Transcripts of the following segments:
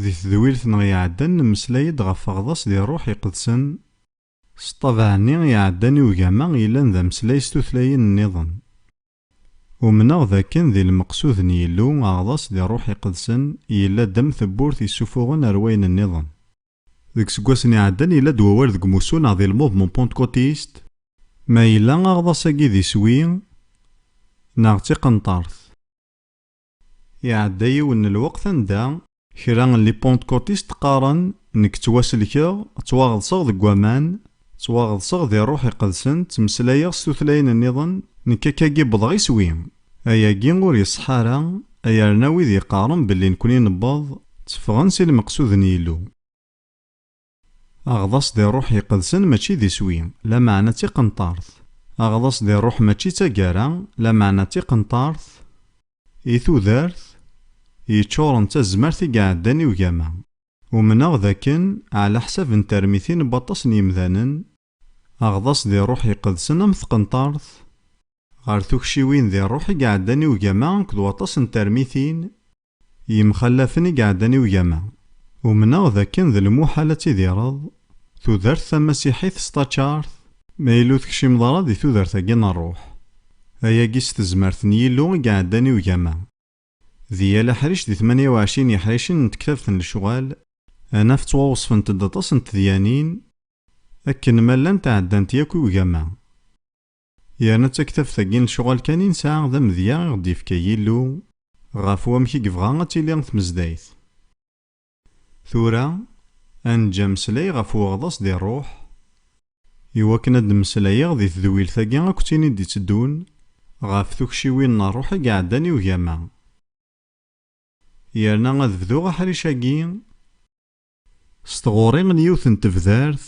Di tedwilt-nneɣ iɛeddan nemmeslay-d ɣef Aɣḍas di Rruḥ Iqedsen. S ṭṭabeɛ-nni iɛeddan i ugama yellan d ameslay s tutlayin-nniḍen. Umneɣ dakken di lmeqsud n Yillu aɣḍas di Rruḥ Iqedsen yella-d am tewwurt yessufuɣen ar wayen nniḍen. Deg iseggasen iɛeddan yella-d wawal deg umussu neɣ di lmuvement pentecotiste. Ma yella aɣḍas-agi d iswi neɣ d tiqenṭert. Iɛedda yiwen n lweqt anda. Kra n lipentkutistes qqaren, Nekk ttwaselkeɣ, ttwaɣeḍseɣ deg waman, ttwaɣeḍseɣ di Rruḥ Iqedsen, ttmeslayeɣ s tutlayin nniḍen, nekk akkagi wwḍeɣ iswi! Ayagi ur iṣeḥḥa ara, ayerna wid yeqqaren belli nekni newweḍ, tteffɣen si lmeqsud n Yillu. Aɣḍaṣ di rruḥ iqedsen mačči d iswi, lameɛna d tiqenṭart. Aɣḍaṣ di rruḥ mačči d taggara, lameɛna d tiqenṭart, i tudert, yeččuren d tazmert i iɛeddan i ugama. Umneɣ d akken, ɛlaḥsab n termitin n waṭas n yimdanen, Aɣḍas di ṛṛuḥ iqedsen am tqenṭart, ɣer tukciwin di ṛṛuḥ i iɛeddan i ugama akked waṭas n termitin yemxallafen i iɛeddan i ugama. Umneɣ d akken d lmuḥal ad tidireḍ tudert tamasiḥit s taččart ma yella ur tekcimeḍ ara di tudert-agi n ṛṛuḥ. Ayagi s tezmert n Yillu i iɛeddan i ugama. Di yal aḥric di tmanya uɛecrin yiḥricen n tektabt n lecɣal, ad naf ttwawesfent-d aṭas n tedyanin akken ma llant ɛeddant yakk i ugama. Yerna d taktabt-agi n lecɣal kan i nesɛa d amedya i ɣ-d-yefka Yillu ɣef wamek i yebɣa ad tili tmezdayt. Tura, ad neǧǧ ameslay ɣef uɣḍaṣ di ṛṛuḥ. I wakken ad d-mmeslayeɣ di tedwilt-agi akked tin i d-itteddun, ɣef tukciwin n ṛṛuḥ i iɛeddan i ugama. Yerna ad bduɣ aḥric-agi s tɣuri n yiwet n tebdart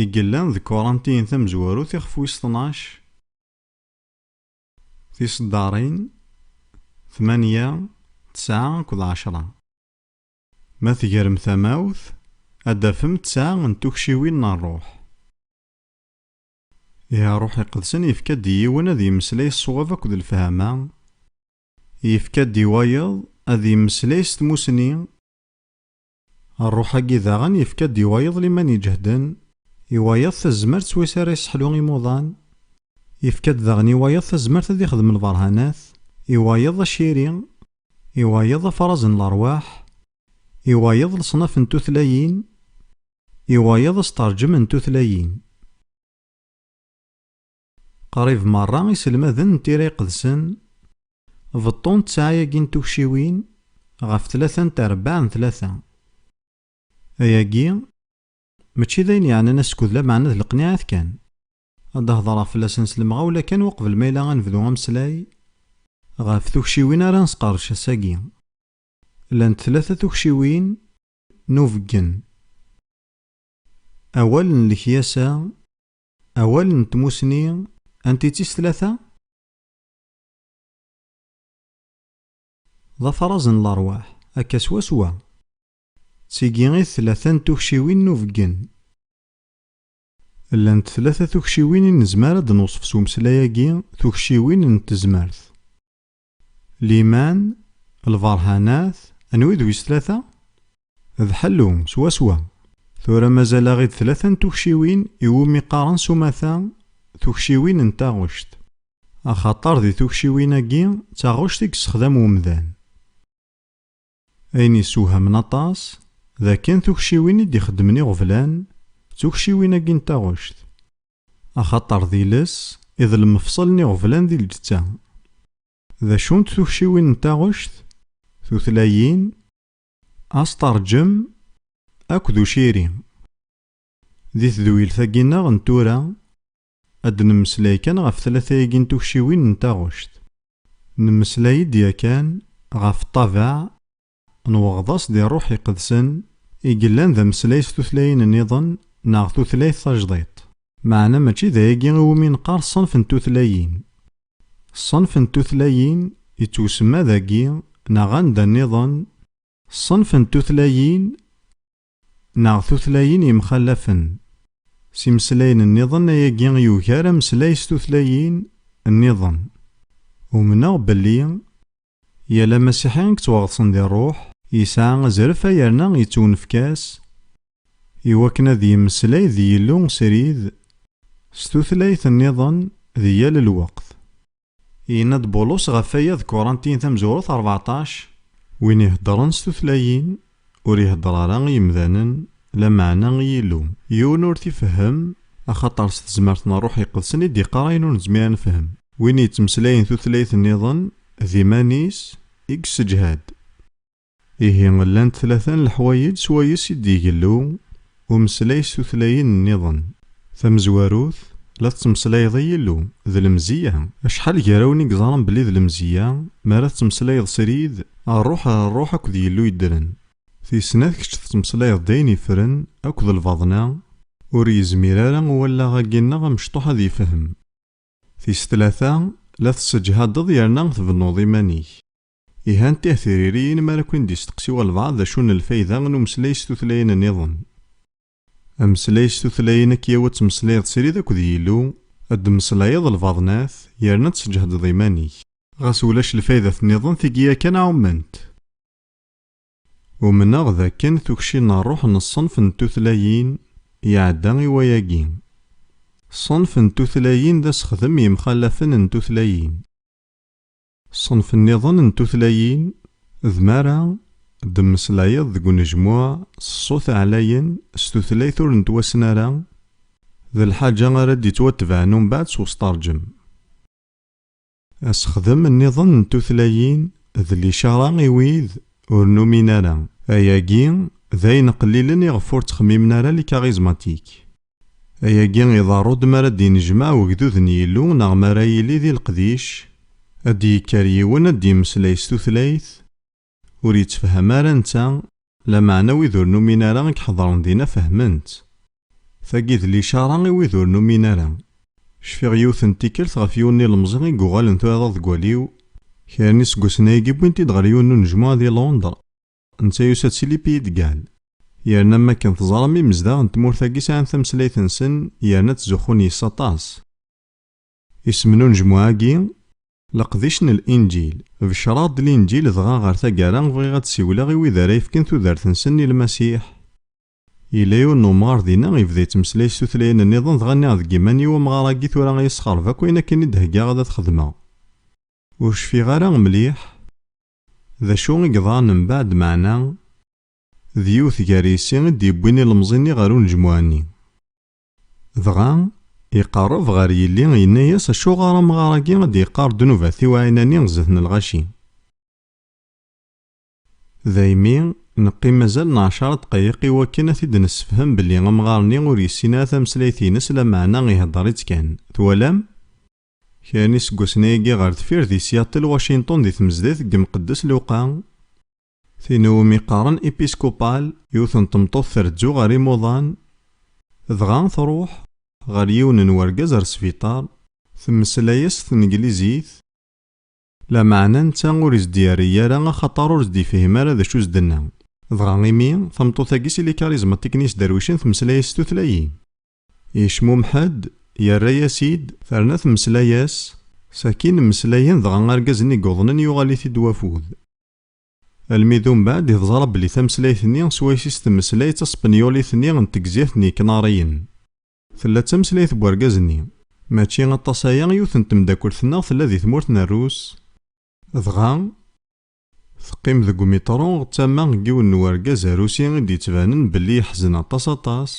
i yellan deg Kuṛantiyen tamezwarut ixef wis tnac, Tiseddaṛin, tmanya, tesɛa akked ɛecṛa. Ma tegrem tamawt, ad d-tafem tesɛa n tukciwin n ṛṛuḥ. Ihi ṛṛuḥ iqedsen yefka-d i yiwen ad yemmeslay ṣṣwab akked lefhama, yefka-d i wayeḍ ad yemmeslay s tmussni, Rruḥ-agi daɣen yefka-d i wayeḍ liman iǧehden, i wayeḍ tazmert s wis ara yesseḥlu imuḍan, yefka-d daɣen i wayeḍ tazmert ad ixdem lberhanat, i wayeḍ aciri, i wayeḍ afraẓ n lerwaḥ, i wayeḍ leṣnaf n tutlayin, i wayeḍ asteṛǧem n tutlayin. Qrib merra iselmaden n tira iqedsen beṭṭun ttɛa-agi n tukciwin ɣef tlata n trebbaɛ n tlata. Ayagi mačči d ayen yeɛnan askud lameɛna d leqniɛat kan. Ad d-hedreɣ fell-asen s lemɣawla kan uqbel ma yella ad nebdu ameslay ɣef tukciwin ara nesqerdec ass-agi. Llant tlata tukciwin n ubeggen. Awal n lekyasa Awal n tmusni antitis tlata? D afraẓ n lerwaḥ, akka swaswa. D tigi i d tlata n tukciwin n ubeggen. Llant tlata tukciwin i nezmer ad d-newṣef s umeslay-agi, tukciwin n tezmert. Liman, lberhanat, anwi d wis tlata? D ḥellu, swaswa. Tura mazal-aɣ-id tlata n tukciwin iwumi qqaren s umata tukciwin n taɣect, axaṭer di tukciwin-agi d taɣect i yessexdam umdan. Ayen yessewhamen aṭas, d akken tukciwin i d-ixeddmen iɣeblan, d tukciwin-agi n taɣect. Axaṭer d iles i d lmefṣel n iɣeblan di lǧetta. D acunt tukciwin n taɣect? Tutlayin, asteṛǧem akked uciri. Di tedwilt-agi-nneɣ n tura, Ad d-nemmeslay kan ɣef tlata-agi n tukciwin n taɣect. Nemmeslay-d yakan ɣef ṭṭabeɛ n weɣḍas di Rruḥ Iqedsen i yellan d ameslay s tutlayin nniḍen neɣ tutlayt tajḍiṭ. Meɛna mačči d ayagi i wumi neqqar ṣṣenf n tutlayin. Ṣṣenf n tutlayin yettwsemma dagi neɣ anda nniḍen, ṣṣenf n tutlayin Neɣ tutlayin yemxallafen. S imeslayen nniḍen ayagi yugar ameslay s tutlayin nniḍen. Umneɣ belli yal amasiḥi yettwaɣeḍsen di ṛṛuḥ, yesɛa azref a yerna yettwnefk-as i wakken ad yemmeslay d Yillu srid s tutlayt nniḍen di yal lweqt. Yenna-d Bulus ɣef waya deg Kuṛantiyen tamezwarut rbeɛṭac. Win iheddṛen s tutlayin, ur iheddṛ ara i yemdanen, lameɛna i Yillu. Yiwen ur t-ifehhem, axaṭer s tezmert n Ṛṛuḥ Iqedsen i d-iqqar ayen ur nezmir ad nefhem. Win yettmeslayen tutlayt nniḍen, d iman-is i yesseǧhad. Ihi llant tlata n leḥwayeǧ s wayes i d-igellu umeslay s tutlayin nniḍen. Tamezwarut, la tettmeslayeḍ i Yillu, d lemziyya. Acḥal gar-awen i iẓran belli d lemziyya mi ara tettmeslayeḍ srid, rruḥ ɣer rruḥ akked Yillu yeddren? Tis snat kečč tettmeslayeḍ d ayen yefren akked lbaḍna, ur yezmir ara wallaɣ-agi-nneɣ amecṭuḥ ad yefhem. Tis tlata, la tesseǧhadeḍ yerna tbennuḍ iman-ik. Ihi anti ah tiririyin mi ara ken-d-isteqsi walbaɛḍ d acu n lfayda n umeslay s tutlayin nniḍen? Ameslay s tutlayin akya-w ad tmeslayeḍ srid akked Yillu, ad d-tmeslayeḍ lbaḍnat, yerna ad tesǧehdeḍ iman-ik. Ɣas ulac lfaydat nniḍen tigi yakan ɛument. Umneɣ d akken tukci n rruḥ n ṣṣenf n tutlayin iɛedda i wayagi. Ṣṣenf n tutlayin d asexdem yemxalafen n tutlayin. Ṣṣenf nniḍen n tutlayin d mara d-temmeslayeḍ deg unejmuɛ s ṣṣut ɛlayen s tutlayt ur nettwassen ara, d lḥaǧa ara d-yettwatebɛen umbeɛd s usṭerǧem. Asexdem nniḍen n tutlayin d licara i wid ur numin ara. Ayagi d ayen qlilen iɣef ur ttxemmimen ara likarizmatiks. Ayagi iḍerru-d mi ara d-yennejmaɛ wegdud n Yillu neɣ mi ara yili di leqdic, ad d-yekker yiwen ad d-yemmeslay s tutlayt ur yettefham ara netta, lameɛna wid ur numin ara i iḥedṛen dinna fehmen-tt. Tagi d licaṛa i wid ur numin ara. Cfiɣ yiwet n tikkelt ɣef yiwen n ilemẓi i yuɣalen tuɛḍaḍ deg waliw, kra n iseggasen ayagi wwin-t-id ɣer yiwen n unejmuɛ di Londres. Netta yusa-d si Lipiyid-Gal. Yerna am wakken teẓram imezdaɣ n tmurt-agi sɛan tameslayt-nsen yerna ttzuxxun yes-s aṭas. Isem n unejmuɛ-agi, Leqdic n Linǧil. Becreɣ-d Linǧil dɣa ɣer taggara bɣiɣ ad d-siwleɣ i wid ara yefken tudert-nsen i Lmasiḥ. Yella yiwen n umɣar dinna yebda yettmeslay s tutlayin nniḍen dɣa nniɣ deg yiman-iw amɣar-agi tura a yi-sxerb akk ayen akken i d-heggaɣ ad t-xedmeɣ. Ur cfiɣ ara mliḥ. D acu i yeḍran mbaɛd meɛna d yiwet gar yisi i d-yewwin ilemẓi-nni ɣer unejmuɛ-nni. Dɣa, iqerreb ɣer yelli yenna-yas acuɣer amɣar-agi i d-yeqqar ddnubat-iw a Ɛinani zdat n lɣaci? Daymi, neqqim azal n ɛecra ddqayiq i wakken a t-id-nessefhem belli amɣar-nni ur yessin ara tameslayt-ines lameɛna ihedder-itt kan. Twalam? Kra n yiseggasen-agi ɣer deffir di Seattle, Washington di tmezdat n yemqeddes Luqa, tin i wumi qqaren Episcopal, yiwet n tmeṭṭut trezzu ɣer imuḍan, dɣa truḥ ɣer yiwen n wergaz ar sbiṭar, temmeslay-as s tneglizit, lameɛna netta ur is-d-yerri ara axaṭer ur s-d-yefhim ara d acu s-d-tenna, dɣa imi tameṭṭut-agi s ilikariẓmaṭiken-is darwicen temmeslay-as s tutlayin. Yecmumeḥ-d, yerra-yas-id, terna temmeslay-as, sakin mmeslayen dɣa argaz-nni yuḍnen yuɣal-it-id wafud. Almi d umbeɛd i teẓra belli tameslayt-nni swayes i s-temmeslay d taspenyulit-nni n tegzirt n Yeknariyen. Tella d tameslayt n wergaz-nni. Mačči aṭas aya, yiwet n temdakelt-nneɣ tella di tmurt n Rrus, dɣa, Teqqim deg umitṛu d tama n yiwen n urgaz arusi i d-yettbanen belli yeḥzen aṭas aṭas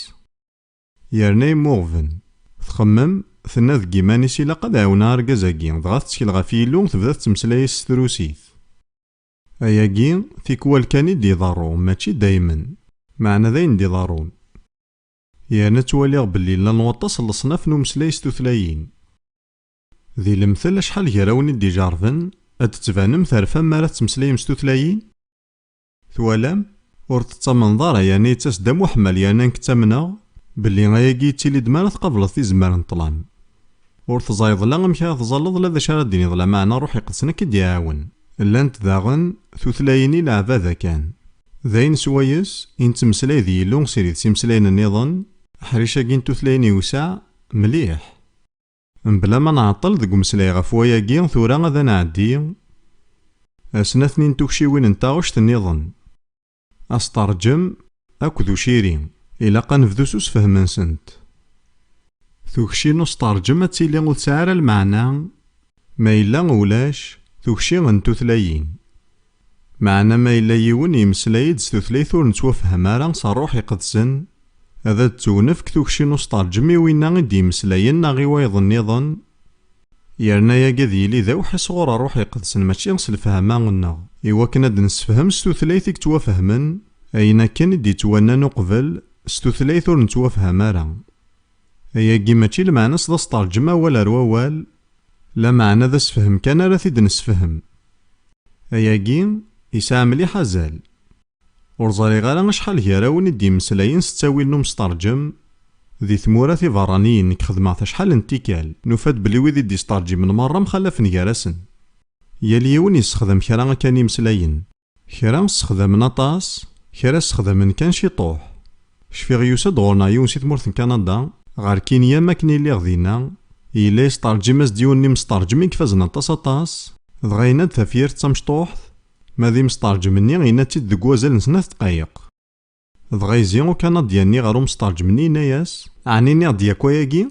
yerna yemmuɣben. Txemmem, tenna deg yiman-is ilaq ad ɛiwneɣ argaz-agi, dɣa tettkel ɣef Yillu, tebda tettmeslay-as s trusit. Ayagi, tikwal kan i d-iḍerru, mačči daymen. Meɛna d ayen d-iḍerrun. Yerna ttwaliɣ belli llan waṭas n leṣnaf n umeslay s tutlayin. Di lemtel acḥal gar-awen i d-ijerben, ad d-tbanem terfam mi ara tettmeslayem s tutlayin? Twalam? Ur tettamneḍ ara yerna yettas-d am uḥmal yerna nekk ttamneɣ belli ayagi yettili-d mi ara tqableḍ tizemmar n ṭṭlam. Ur teẓẓayeḍ la amek ara tẓalleḍ la d acu ara d-tiniḍ lameɛna Ṛṛuḥ Iqedsen ad k-id-iɛawen. Llant daɣen tutlayin i leɛbada kan. D ayen swayes i nettmeslay d Yillu s irid s imeslayen nniḍen, aḥric-agi n tutlayin iwseɛ mliḥ. Mebla ma nɛeṭṭel deg umeslay ɣef wayagi, tura ad nɛeddi ar snat-nni n tukciwin n taɣect nniḍen, asteṛǧem akked uciri. Ilaq ad nebdu s usefhem-nsent. Tukci n usteṛǧem ad tili ur tesɛi ara lmeɛna ma yella ulac tukci n tutlayin. Meɛna ma yella yiwen yemmeslay-d s tutlayt ur nettwafham ara s Rruḥ Iqedsen, ad ad-d-tewnefk tukci n usṭerǧem i winna i d-yemmeslayen neɣ i wayeḍ-nniḍen, yerna yagi ad yili d awḥi sɣur Rruḥ Iqedsen mačči s lefhama-nneɣ, i wakken ad d-nessefhem s tutlayt i yettwafehmen, ayen akken i d-yettwannan uqbel s tutlayt ur nettwafham ara. Ayagi mačči lmeɛna-s d asṭerǧem awal ar wawal, Lameɛna d asefhem kan ara t-id-nesefhem. Ayagi yesɛa mliḥ azal. Ur ẓriɣ ara acḥal gar-awen i d-yemmeslayen s ttawil n umestarǧem di tmura tiberraniyin nekk xedmeɣ-t acḥal n tikkal nufa-d belli wid i d-yestarǧimen merra mxalafen gar-asen. Yal yiwen yessexdam kra akka n yimeslayen. Kra ssexdamen aṭas, kra ssexdamen kan ciṭuḥ. Cfiɣ yusa-d ɣur-neɣ yiwen si tmurt n Kanada, ɣer Kinya mi akken i lliɣ dinna, yella yesṭerǧim-as-d yiwen n yimesṭerǧem i ifazen aṭas aṭas, dɣa yenna-d tafyirt d tamecṭuḥt, ma d imesṭerǧem-nni yenna-tt-id deg wazal n snat ddqayeq. Dɣa yezzi Ukanadya-nni ɣer umesṭerǧem-nni yenna-yas, Ɛni nniɣ-d yakk ayagi?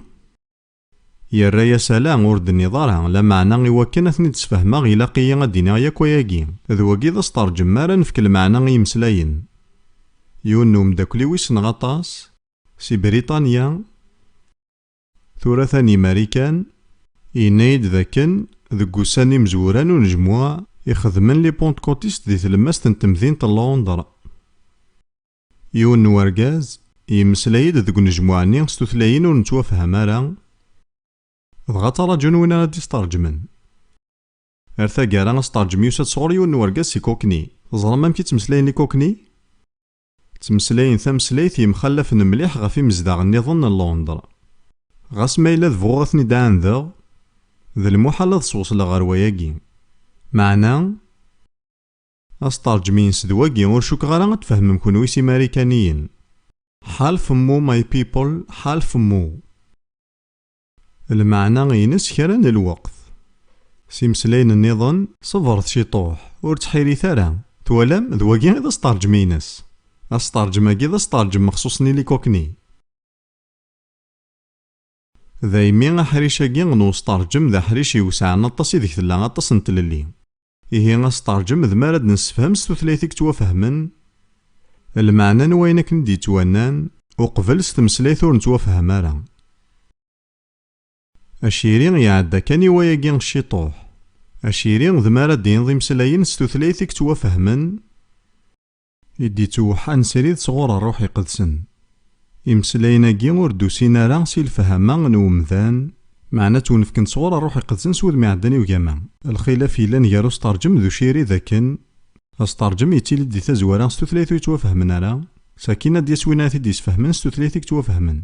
Yerra-yas ala, ur d-tenniḍ ara, lameɛna i wakken ad ten-id-sfehmeɣ ilaq-iyi ad d-iniɣ yakk ayagi. D wagi d asṭerǧem mi ara nefk lmeɛna i yimeslayen. Yiwen n umeddakel-iw i ssneɣ aṭas, si Britanya, tura atan i Marikan, yenna-yi-d d akken deg wussan n imezwura n unejmuɛ i xedmen Lipentkutistes di tlemmast n temdint n Londres, Yiwen n urgaz yemmeslay-d deg unejmuɛ-nni s tutlayin ur nettwafham ara, dɣa ttarajun win ara d-isteṛǧmen. Ar taggara, asteṛǧem yusa-d sɣur yiwen n urgaz si Kokni. Teẓram amek i ttmeslayen Ikokni? Ttmeslayen tameslayt yemxallafen mliḥ ɣef imezdaɣ nniḍen n Londres. Ɣas ma yella d bɣuɣ ad ten-id-ɛandeɣ, d lmuḥal ad swesleɣ ɣer wayagi. Meɛna? Astarǧem-ines d wagi, ur cukkeɣ ara ad tfehmem kunwi s imarikaniyen. Half mmu my people, half mmu. Lmeɛna-ines kra n lweqt. S imeslayen nniḍen. Ṣebret ciṭuḥ, ur ttḥirit ara. Twalam, d wagi i d astarǧem-ines. Astarǧem-agi d astarǧem mexṣuṣ n ilikokni. Daymi aḥric-agi n usṭerǧem d aḥric iwesɛen aṭas ideg tella aṭas n tlelli. Ihi asṭerǧem d mi ara d-nessefhem s tutlayt i yettwafehmen lmeɛna n wayen akken i d-yettwannan, uqbel s tmeslayt ur nettwafhem ara. Aciri iɛedda kan i wayagi ciṭuḥ. Aciri d mi ara d-tiniḍ imeslayen s tutlayt i yettwafehmen, I d-ittewḥan srid sɣur Rruḥ Iqedsen. Imeslayen-agi ur d-usin ara si lefhama n umdan, meɛna ttwenefken-d sɣur Rruḥ Iqedsen s wudem iɛeddan i ugama. Lxilaf yellan gar usṭerǧem d ucirid akken, asṭerǧem yettili-d di tazwara s tutlayt ur yettwafhamen ara, sakin ad d-yas win ara t-id-yesfehmen s tutlayt i yettwafhamen.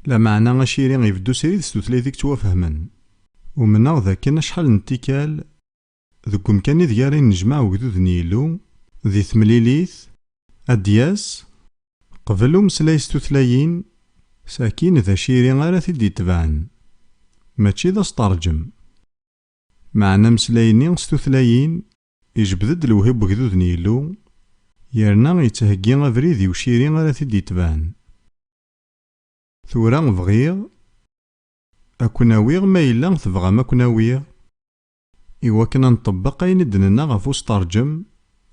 Lameɛna aciri ibeddu srid s tutlayt i yettwafhamen. Umneɣ d akken acḥal n tikkal, Deg umkan ideg ara yennejmaɛ ugdud n Yillu di temlilit, ad d-yas qbel umeslay s tutlayin, sakin d aciri ara t-id-itebɛen, mačči d asṭerǧem. Meɛna ameslay-nni s tutlayin ijebbed-d lewhi n wegdud n Yillu, yerna yettheggi abrid i uciri ara t-id-itebɛen. Tura bɣiɣ a ken-awiɣ ma yella tebɣam a ken-awiɣ, I wakken a nṭebbeq ayen i d-nenna ɣef usṭerǧem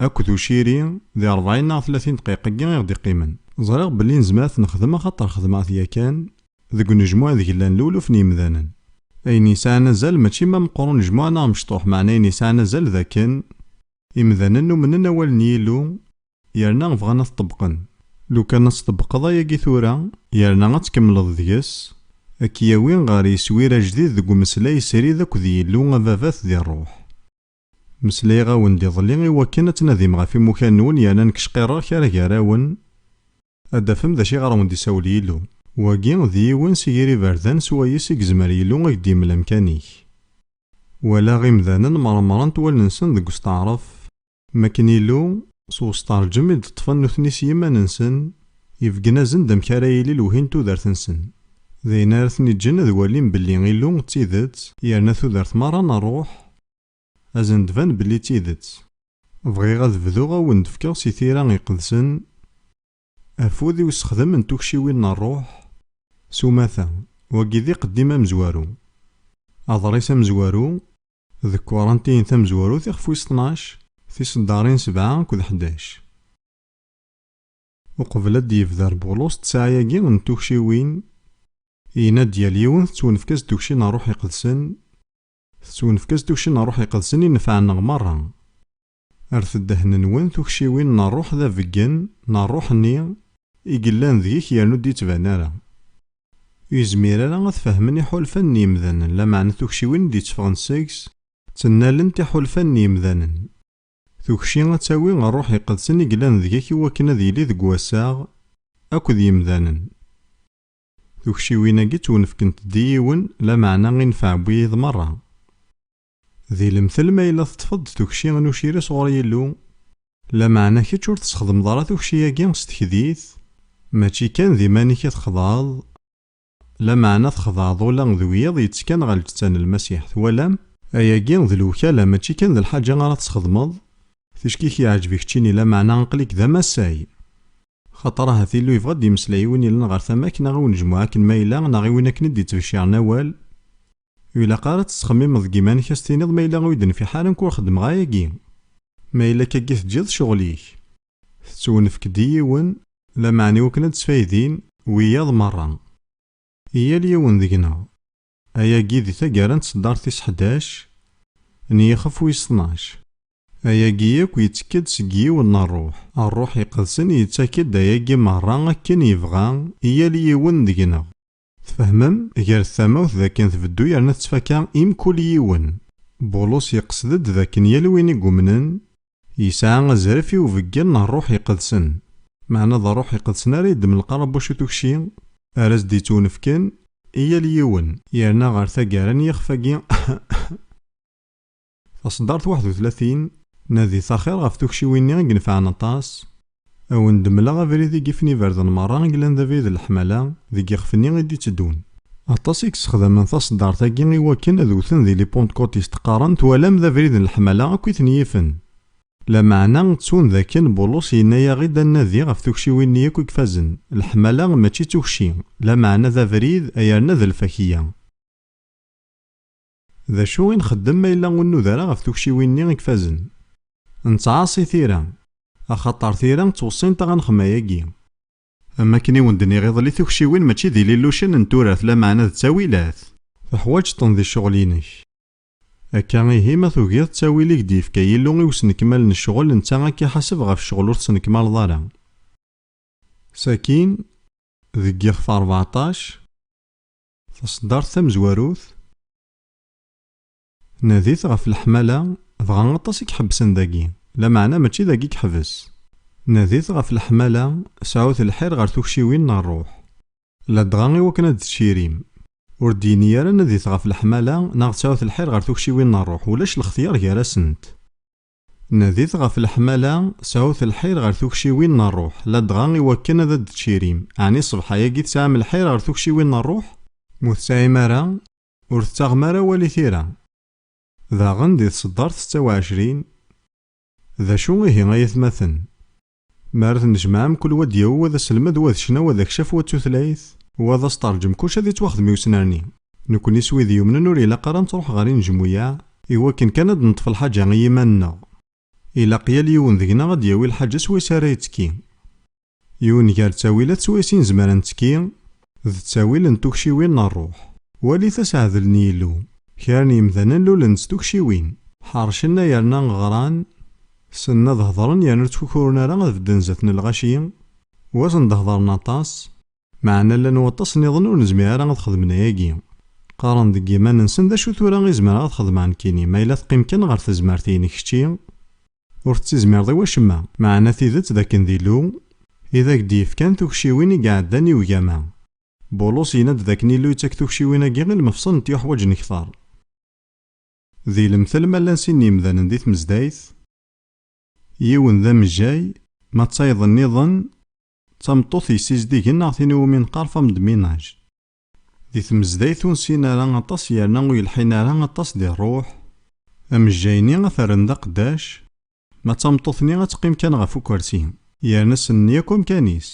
akked uciri di rebɛin neɣ tlatin ddqiq-agi i ɣ-d-iqqimen. Ẓriɣ belli nezmer ad t-nexdem axaṭer xedmeɣ-t yakan deg unejmuɛ ideg llan luluf n yimdanen. Ayen yesɛan azal mačči ma meqqer unejmuɛ neɣ mecṭuḥ, meɛna ayen yesɛan azal d akken imdanen umnen awal n Yillu Yerna bɣan ad t-ṭebbqen. Lukan ad t-ṭebbqeḍ ayagi tura, yerna ad tkemmleḍ deg-s, ad k-yawi ɣer yiswir ajdid deg umeslay srid akked Yillu Ababat di ṛṛuḥ. Meslayeɣ-awen-d iḍelli i wakken ad tnadim ɣef imukan-nwen yerna nekk cqirreɣ kra gar-awen ad d-tafem d acu iɣer awen-d-isawel Yillu. Wagi d yiwen si yir iberdan s wayes i yezmer Yillu a k-d-yemmel amkan-ik. Walaɣ imdanen mṛemṛent wallen-nsen deg usteɛṛef. Makken Illu, s wesṭerǧem i d-ṭṭfen nutni s yiman-nsen, ibeggen-asen-d amek ara yili lewhi n tudert-nsen. D ayen ara ten-iǧǧen ad walin belli Illu d tidet, yerna tudert merra n ṛṛuḥ ad sen-d-tban belli d tidet. Bɣiɣ ad bduɣ a wen-d-fkeɣ si tira iqedsen Afud i usexdem n tukciwin n rruḥ s umata, wagi d iqeddim amezwaru. Aḍris amezwaru d kkurantin tamezwarut ixef wis tnac, tiseddarin sebɛa akked ḥdac. Uqbel ad d-yebder Bulus ttesɛa-agi n tukciwin, yenna-d yal yiwen tettwenfka-s-d tukci n rruḥ iqedsen, tettwenfka-s-d tukci n rruḥ iqedsen i nnfeɛ-nneɣ merra. Err-t ddehn-nwen tukciwin n rruḥ d abeggen n rruḥ-nni i yellan deg-k yernu ur d-yettban ara. Ur yezmir ara ad t-fehmen iḥulfan n yemdanen lameɛna tukciwin i d-yetteffɣen seg-s ttennalent iḥulfan n yemdanen. Tukci ad tawi rruḥ iqedsen i yellan deg-k iwakken ad yili deg wassaɣ akked yemdanen. Tukciwin-agi ttwenefkent-d i yiwen lameɛna i nfeɛ n wiyiḍ merra. Di lemtel ma yella teṭṭfeḍ-d tukci n uciri sɣur Yillu, lameɛna kečč ur tesxedmeḍ ara tukci-agi s tekdit, mačči kan d iman-ik i txedɛeḍ, lameɛna txedɛeḍ ula d wiyiḍ yettekkan ɣer lǧetta n Lmasiḥ. Twalam? Ayagi d lewkala, mačči kan d lḥaǧa ara tesxedmeḍ, ticki-k yeɛǧeb i keččini, lameɛna aql-ik d amasay. Xaṭer ahat Illu yebɣa ad d-yemmeslay i win yellan ɣer tama-k neɣ i unejmuɛ akken ma yella, neɣ i win akken i d-ittbecciren awal, Ilaq ara teţxemmimeḍ deg iman-ik a s-tiniḍ ma yella ur yi-d-nfiḥ ara nekk ur xeddmeɣ ayagi. Ma yella akka agi teǧǧiḍ ccɣel-ik. Teţwewnefk-d i yiwen, lameɛna iwakken ad d-ţfaydin wiyaḍ meṛṛa. I yal yiwen deg-neɣ. Ayagi di taggara n tseddart tis ḥdac n yixef wis tnac. Ayagi yakk yettekk-d seg yiwen n ṛṛuḥ. Ṛṛuḥ iqedsen yettak-d ayagi meṛṛa akken yebɣa i yal yiwen deg-neɣ. Tfehmem, gar tamawt d akken tbeddu yerna tettfaka i mkul yiwen. Bulus yeqsed-d d akken yal win i yumnen, yesɛa azref i ubeggel n Rruḥ Iqedsen. Meɛna d Rruḥ Iqedsen ara yeddmen lqarabuc i tukci ara s-d-yettwnefken i yal yiwen. Yerna ɣer taggara n yixef-agi. Taṣeddart waḥed u tlatin. Nadit axir ɣef tukciwin-nni i inefɛen aṭas. A wen-d-mleɣ abrid i yifen iberdan merra i yellan d abrid n leḥmala deg yixef-nni i d-itteddun. Aṭas i yessexdamen taṣeddart-agi i wakken ad wten di Les Pentecôtistes qqaren twalam d abrid n leḥmala akk i ten-yifen. Lameɛna ttun d akken Bulus yenna-yaɣ-id ad nnadi ɣef tukciwin-nni akk i ifazen, leḥmala mačči d tukci, lameɛna d abrid, ay erna d lfakya. D acu i nxeddem ma yella ur nnuda ara ɣef tukciwin-nni i ifazen? Nettɛaṣi tira, axaṭer tira ttweṣṣint-aɣ ad nexdem ayagi. Am wakken i wen-d-nniɣ iḍelli tukciwin mačči d ililucen n turart lameɛna d ttawilat. Teḥwaǧeḍ-ten di ccɣel-inek. Akka ihi ma tugiḍ ttawil i k-d-yefka Yillu i usnekmal n ccɣel netta a k-iḥaseb ɣef ccɣel ur tesnekmaleḍ ara. Sakin, deg ixef rbeɛṭac. Taṣeddart tamezwarut, Nadit ɣef leḥmala, dɣa aṭas i iḥebbsen dagi, lameɛna mačči dagi i yeḥbes. Nadit ɣef leḥmala, sɛut lḥir ɣer tukciwin n ṛṛuḥ, ladɣa i wakken ad d-tcirim. Ur d-yenni ara nadit ɣef leḥmala neɣ sɛut lḥir ɣer tukciwin n ṛṛuḥ, ulac lextyar gar-asent. Nadit ɣef leḥmala, sɛut lḥir ɣer tukciwin n rruḥ, ladɣa i wakken ad d-tcirim. Ɛni ṣṣbeḥ-agi tesɛam lḥir ɣer tukciwin n rruḥ? M'ur tesɛim ara, ur tettaɣem ara awal i tira. Daɣen di tseddart setta u ɛecrin, D acu ihi ay atmaten? Mi ara tennejmaɛ mkul wa ad d-yawi wa d aselmed, wa d ccna, wa d akcaf, wa d tutlayt, wa d asteṛǧem, kullec ad yettwaxdem i usnerni. Nekkni s wid yumnen ur ilaq ara ad nettṛuḥ ɣer inejmuyaɛ i wakken kan ad d-neṭṭef lḥaǧa i yiman-nneɣ. Ilaq yal yiwen deg-neɣ ad d-yawi lḥaǧa s wayes ara yettekki. Yiwen gar ttawilat s wayes i nezmer ad nettekki, d ttawil n tukciwin n rruḥ. Walit aseɛdel n Yillu. Kra n yemdanen lulen-d s tukciwin. Ḥercen a yerna ɣran, ssnen ad hedren yerna ur ttkukurun ara ad bedden zdat n lɣaci, wasen-d ad hedren aṭas, meɛna llan waṭas niḍen ur nezmir ara ad xedmen ayagi, qqaren deg yiman-nsen d acu tura i zemreɣ ad xedmeɣ nekkini ma yella teqqim kan ɣer tezmert-in kečči, Ur tettizmireḍ i wacemma. Meɛna tidet d akken d Illu i d ak-d-yefkan tukciwin i iɛeddan i ugama. Bulus yenna-d d akken Illu yettak tukciwin-agi i lemefṣel n tyuḥwaǧ n kter. Di lemtel ma llan sin n yemdanen di tmezdayt, yiwen d amejjay, ma d tayeḍ-nniḍen d tameṭṭut yessizdigen neɣ tin iwumi neqqar femme de ménage. Di tmezdayt ur nsin ara aṭas yerna ur yelḥin ara aṭas di rruḥ, amejjay-nni ad t-rren d aqeddac, ma d tameṭṭut-nni ad teqqim kan ɣef ukersi, yerna ssnen yakk amkan-is.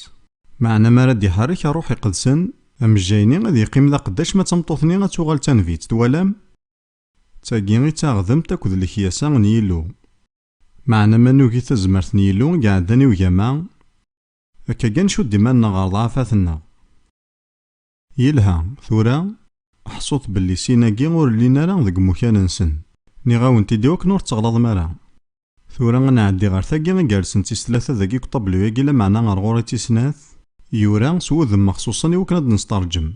Meɛna mi ara d-iḥerrek Rruḥ Iqedsen, amejjay-nni ad yeqqim d aqeddac ma d tameṭṭut-nni ad tuɣal d tanbitt. Twalam? D tagi i d taɣdemt akked lekyasa n Yillu. Meɛna ma nugi tazmert n Yillu i iɛeddan i ugama, akka kan ncudd iman-nneɣ ɣer ḍḍɛafat-nneɣ. Yelha, tura ḥṣut belli sin-agi ur llin ara deg umukan-nsen. Nniɣ-awen-t-id iwakken ur tteɣlaḍem ara. Tura ad nɛeddi ɣer tagi igersen d tis tlata dagi deg uṭablu-agi lameɛna ɣer ɣur-i d tis snat, yura s wudem mexṣuṣen iwakken ad d-nesṭerǧem.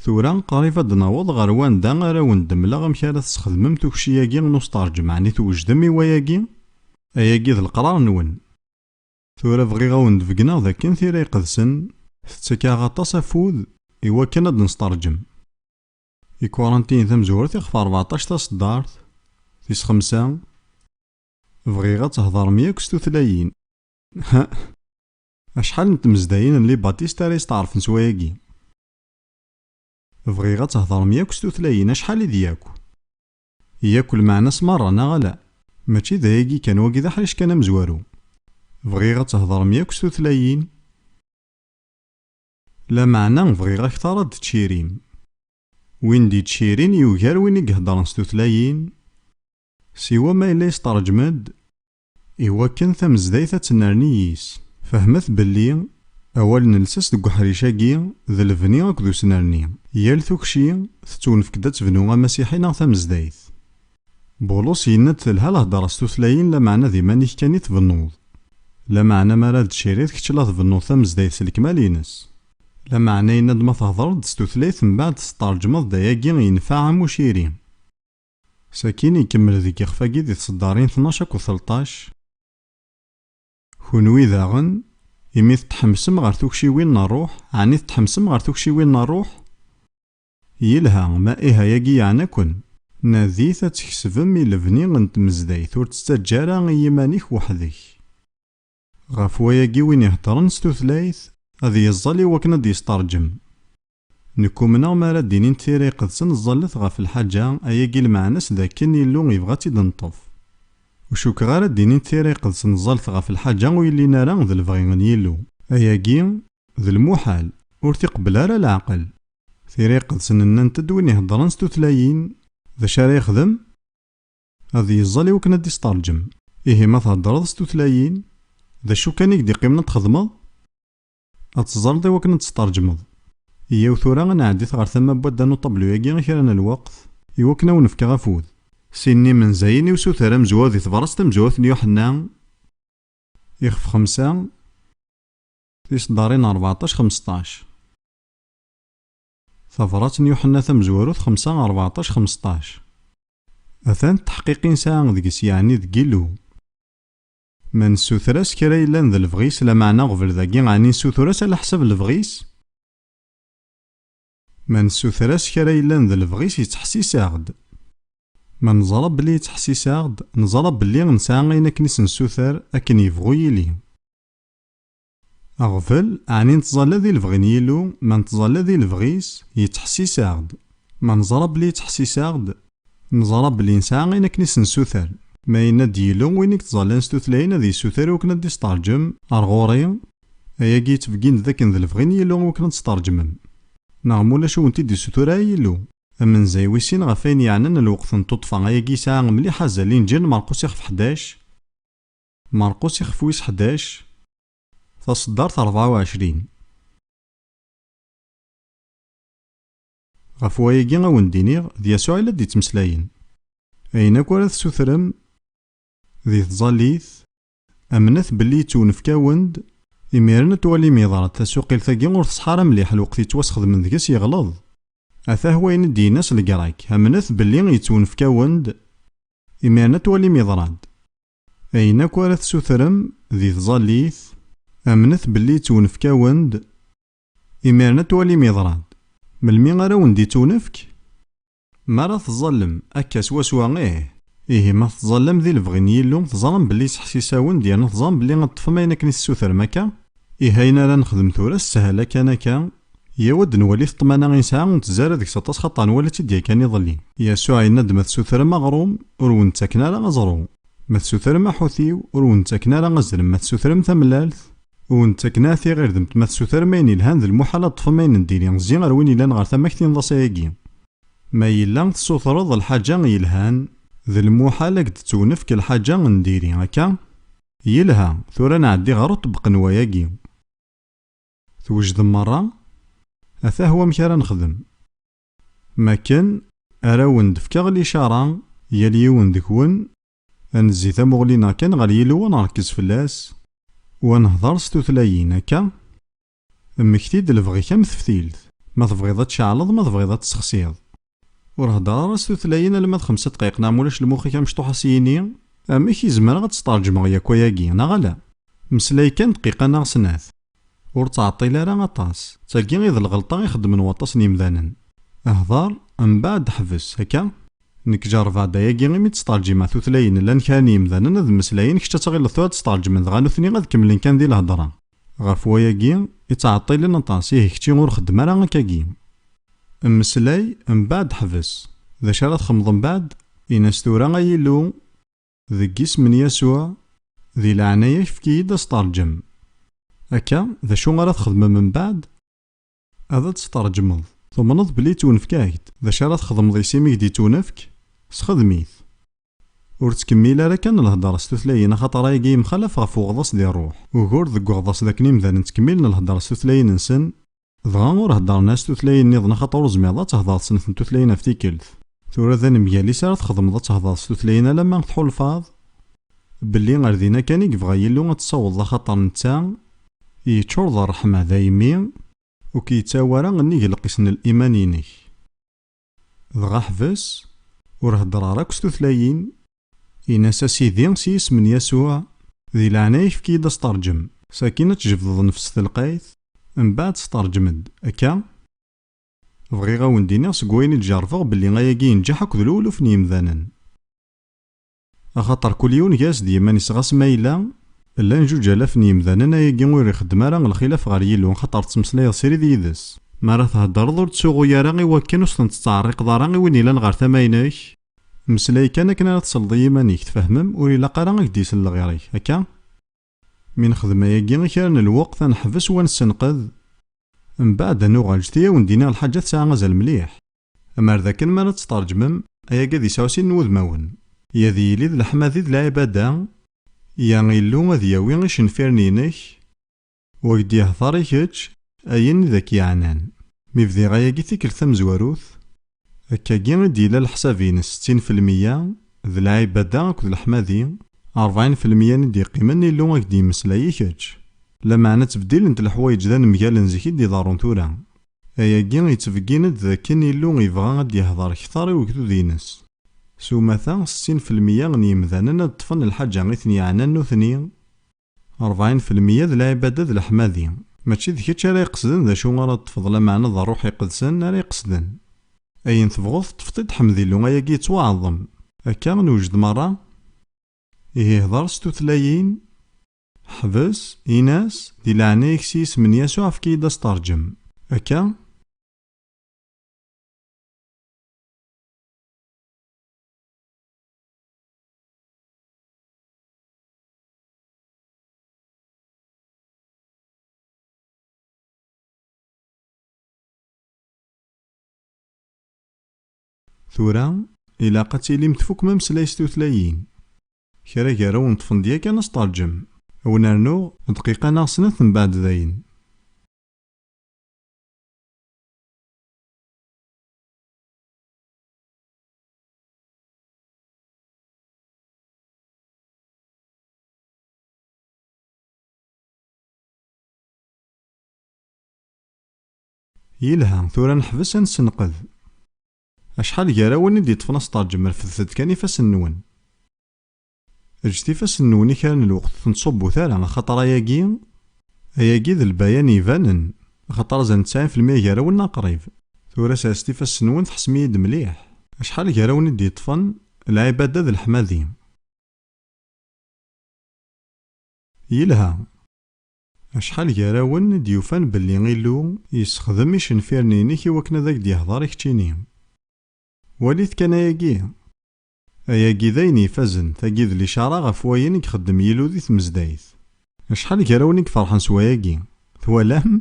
Tura qrib ad d-naweḍ ɣer wanda ara awen-d-mleɣ amek ara tesxedmem tukci-agi n usṭerǧem, ɛni twejdem i wayagi? Ayagi d leqrar-nwen. Tura bɣiɣ ad wen-d-beggneɣ d akken Tira Iqedsen tettak-aɣ aṭas afud i wakken ad d-nesṭerǧem ikurantiyen tamezwarut iɣef rbeɛṭac taṣeddart, tis xemsa, bɣiɣ ad theḍrem yakk s tutlayin. Hah! Acḥal n tmezdayin n Libatist ara yesteɛṛfen s wayagi? Bɣiɣ ad theḍrem yakk s tutlayin, acḥal i d yakk? Yak lmeɛna-s merra, neɣ ala? Mačči d ayagi kan, wagi d aḥric kan amezwaru. Bɣiɣ ad theḍrem yakk s tutlayin. Lameɛna bɣiɣ akteṛ ad d-tcirim. Win d-yettcirin yugar win i iheddṛen s tutlayin, siwa ma yella yesṭerǧem-d. Iwakken tamezdayt ad tennerni yis. Fehmet belli awal n lsas deg uḥric-agi d lebni akked usnerni. Yal tukci tettwenfk-d ad tebnu amasiḥi neɣ tamezdayt. Bulus yenna-d telha lhedra s tutlayin lameɛna d iman-ik kan i tbennuḍ. Lameɛna mi ara d-tciriḍ kečč la tbennuḍ tamezdayt s lekmal-ines. Lameɛna yenna-d ma thedreḍ-d s tutlayt mbaɛd tettṛeǧmeḍ-d ayagi yenfeɛ am uciri. Sakin ikemmel deg yixef-agi di tseddarin tnac akked telṭac, Kunwi daɣen, imi tetḥemsem ɣer tukciwin n ṛṛuḥ, ɛni tetḥemsem ɣer tukciwin n ṛṛuḥ? Yelha, ma ih ayagi yeɛna-ken. Nadit ad tkesbem i lebni n tmezdayt, ur tt-ttaǧǧa ara i yiman-ik weḥd-k. Ɣef wayagi win iheddṛen s tutlayt, ad yeẓẓel i wakken ad d-yesṭerǧem. Nekk umneɣ mi ara d-inin tira iqedsen ẓẓallet ɣef lḥaǧa, ayagi lmeɛna-s d akken Illu yebɣa ad tt-id-neṭṭef. Ur cukkeɣ ara d-inin tira iqedsen ẓẓallet ɣef lḥaǧa ur yellin ara d lebɣi n Yillu. Ayagi, d lmuḥal, ur t-iqebbel ara leɛqel. Tira iqedsen nnant-d win iheddṛen s tutlayin, d acu ara yexdem? Ad yeẓẓal i wakken ad d-isteṛǧem. Ihi ma theddṛeḍ s tutlayin, d acu kan i k-d-iqqimen ad t-txedmeḍ? Ad teẓreḍ iwakken ad tt-tṛejmeḍ. Yyaw tura ad nɛeddit ɣer tama n wadda n uṭablu-agi i kra n lweqt, iwakken ad wen-fkeɣ afud. Sin n yimenzayen i usuter amezwaru di tebṛast tamezwarut n Yuḥenna ixef xemsa, tiseddaṛin rbeɛṭac xemseṭṭac. Tabṛat n Yuḥenna tamezwarut xemsa rbeɛṭac xemseṭṭac, atan dteḥqiq i nesɛa deg-s, yeɛni deg Yillu. Ma nessuter-as kra yellan d lebɣi-s, lameɛna aɣbel dagi ɛni nessutur-as ala ḥsab lebɣi-s? Ma nessuter-as kra yellan d lebɣi-s yettḥessis-aɣ-d. Ma neẓra belli yettḥessis-aɣ-d, neẓra belli nesɛa ayen akken i s-nessuter akken yebɣu yili. Aɣbel, ɛni nettẓalla di lebɣi n Yillu? Ma nettẓalla di lebɣi-s, yettḥessis-aɣ-d. Ma neẓra belli yettḥessis-aɣ-d, neẓra belli nesɛa ayen akken i s-nessuter. Ma yenna-d Yillu, win i yettẓallan s tutlayin ad yessuter i wakken ad d-isteṛǧem ar ɣur-i, ayagi yettbeggin-d d akken d lebɣi n Yillu i wakken ad d-steṛǧmem. Neɣ ma ulac ur wen-t-id-yessutur ara Yillu. Amenzay wis sin ɣef wayen yeɛnan lweqt n tuṭṭfa, ayagi yesɛa mliḥ azal, Inǧil n Merqus ixef ḥdac. Marqus ixef wis ḥdac, taṣeddart ṛebɛa u ɛecrin. Ɣef wayagi a wen-d-iniɣ d Yasuɛ i la d-yettmeslayen. Ayen akk ara tessutrem di tẓallit, amnet belli yettwnefk-awen-d, imiren ad twalim yeḍra-d tasuqilt-agi ur teṣḥa ara mliḥ lweqt yettwasxedmen deg-s yeɣleḍ. Atah wayen i d-yenna s Legrak, amnet belli yettwnefk-awen-d, imiren ad twalim yeḍra-d. Ayen akk ara tessutrem di tẓallit, amnet belli ittunefk-awen-d, imiren ad twalim yeḍra-d. Melmi ara wen-d-ittunefk? Mi ara tẓallem, akka swaswa ih! Ihi ma tettẓallam di lebɣi n Yillu, teẓram belli yeseḥsis-awen-d yerna teẓram belli ad teṭṭfem ayen akken i tessutrem akka? Ihi ayen ara nexdem tura, ssehla kan akka, Yyaw ad nwali ṭṭmana i nesɛa ur nettzara deg-s aṭas xaṭer nwala-tt-id yakan iḍelli. Yasuɛ yenna-d ma tsutrem aɣrum, ur wen-ttaken ara aẓru, ma tsutrem aḥutiw, ur wen-ttaken ara azrem, ma tsutrem tamellalt, ur wen-ttaken ara tiɣirdemt, ma tsutrem ayen yelhan d lmuḥal ad ṭṭfem ayen n diri, zzi ar win yellan ɣer tama-k tinḍ-as ayagi. Ma yella tsutreḍ lḥaǧa yelhan, d lmuḥal a k-d-tettwnefk lḥaǧa n diri, akka? Yelha, tura ad nɛeddi ɣer uṭebbq n wayagi. Twejdem merra? Atah wamek ara nexdem. M akken, ara awen-d-fkeɣ licara, yal yiwen deg-wen, ad nezzi tamuɣli-neɣ kan ɣer Yillu ad nṛekkez fell-as, u ad nehdeṛ s tutlayin, akka? Mmekti-d lebɣi-k am teftilt, ma tebɣiḍ ad tceɛleḍ ma tebɣiḍ ad tessexsiḍ. Ur hedder ara s tutlayin alma d xemsa dqayeq neɣ mulac lmux-ik amecṭuḥ a s-yini, Amek i zemreɣ ad tt-tṛeǧmeɣ yakk ayagi, neɣ ala? Meslay kan dqiqa neɣ snat. Ur ttɛeṭṭil ara aṭas. D tagi i d lɣelṭa i xeddmen waṭas n yemdanen. Hder, mbeɛd ḥbes. Akka? Nekk ǧerrbeɣ-d ayagi imi tt-tṛeǧimeɣ tutlayin llan kra n yemdanen ad mmeslayen kečč ad tɣileḍ tura tt-tṛeǧmen dɣa nutni ad kemmlen kan di lhedra. Ɣef wayagi i ttɛeṭṭilen aṭas, ihi kečči ur xeddem ara akkagi. Mmeslay, mbeɛd ḥbes. D acu ara txemḍ mbeɛd? Ini-as tura, Ay Illu, deg yisem n Yasuɛ, di leɛnaya-k efk-iyi-d asteṛǧem. Akka, d acu ara txedmem mbeɛd? Ad tt-tṛejmeḍ. Tumneḍ belli ttwenfka-ak-d. D acu ara txedmeḍ i s-imi k-d-ittunefk? Sxedem-it. Ur ttkemmil ara kan lhedṛa s tutlayin axaṭer ayagi yemxalaf ɣef uɣḍaṣ di ṛṛuḥ. Ugur deg uɣḍaṣ d akken imdanen ttkemmilen lhedṛa s tutlayin-nsen, dɣa ur heddṛen ara s tutlayin-nniḍen axaṭer ur tezmireḍ ad thedṛeḍ snat n tutlayin ɣef tikkelt. Tura d anemgal-is ara txedmeḍ ad tehdeṛ s tutlayin alamma tḥulfaḍ belli ar dinna kan i yebɣa Yillu ad tessawḍeḍ axaṭer netta yeččur d ṛṛeḥma daymi ur k-yettawi ara nnig lqis n liman-inek. Dɣa ḥbes ur heddeṛ ara akk s tutlayin, in-as a Sidi s yisem n Yasuɛ, di leɛnaya-k efk-iyi-d asteṛǧem. Sakin ad tjebdeḍ nnefs telqayt, mbaɛd steṛǧem-d, akka? Bɣiɣ a wen-d-iniɣ seg wayen i d-jerbeɣ belli ayagi yenǧeḥ akk d lewluf n yemdanen. Axaṭer kul yiwen gar-s d yiman-is ɣas ma yella, llan juǧ alaf n yemdanen ayagi ur ixeddem ara lxilaf ɣer Yillu axaṭer ttmeslayeḍ srid yid-s. Mi ara theddreḍ ur ttsuɣuy ara i wakken ur s-ten-tettɛerriqeḍ ara i win yellan ɣer tama-inek. Mmeslay kan akken ara tesleḍ i yiman-ik, tfehmem, ur ilaq ara a k-d-yesel lɣir-ik. Akka? Mi nexdem ayagi i kra n lweqt ad neḥbes u ad nessenqed, mbeɛd ad nuɣal jti a wen-d-iniɣ lḥaǧa tesɛa azal mliḥ, amar d akken mi ara tt-tṛeǧmem ayagi ad yesɛu sin n wudmawen, i ad yili d leḥmadi d lɛibada, Ya Illu ad yawi icenfiren-inek u ak d-yehder i kečč ayen i d ak-yeɛnan. Mi bdiɣ ayagi tikelt tamezwarut, Akkagi i d-yella leḥsab-ines, settin felmiya d lɛibada akked leḥmadi, rebɛin felmiya n i d-yeqqimen Illu a k-d-yemmeslay i kečč. Lameɛna ttbeddilent leḥwayeǧ d anemgal n zik i d-iḍerrun tura. Ayagi yettbeggin-d d akken Illu yebɣa a d-yehder kter i ugdud-ines. S umata, settin felmiya n yemdanen ad ṭṭfen lḥaǧa i ten-yeɛnan nutni. Ṛebɛin felmiyya d lɛibada d leḥmadi. Mačči d kečč ara iqesden d acu ara ṭṭfeḍ lameɛna d Ṛṛuḥ Iqedsen ara iqesden. Ayen tebɣuḍ teṭṭfeḍ-t-id ḥmed Illu ayagi yettwaɛḍem. Akka newjed meṛṛa? Ihi hdeṛ s tutlayin. Ḥbes, in-as, di leɛnaya-k s yisem n Yasuɛ efk-iyi-d asteṛǧem. Akka? Tura, ilaq ad tilim tfukem ameslay s tutlayin. Kra gar-awen ṭṭfen-d yakan asṭerǧem. Ad wen-rnuɣ dqiqa neɣ snat mbeɛd dayen. Yelha, tura neḥbes ad nessenqed. Acḥal gar-awen i d-yeṭṭfen asteṛjem refdet-d kan ifassen-nwen. Eǧǧet ifassen-nwen i kra n lweqt tenṣubbut ara axaṭer ayagi, ayagi d lbayan ibanen axaṭer azal n ttsɛin felmya gar-awen neɣ qrib. Tura serset ifassen-nwen tḥessem-iyi-d mliḥ. Acḥal gar-awen i d-yeṭṭfen lɛibada d leḥmadi? Yelha. Acḥal gar-awen i d-yufan belli Illu yessexdem icenfiren-inek i wakken ad ak-d-yehder i keččini? Walit kan ayagi! Ayagi d ayen ifazen, tagi d licara ɣef wayen i ixeddem Yillu di tmezdayt. Acḥal gar-awen i iferḥen s wayagi? Twalam?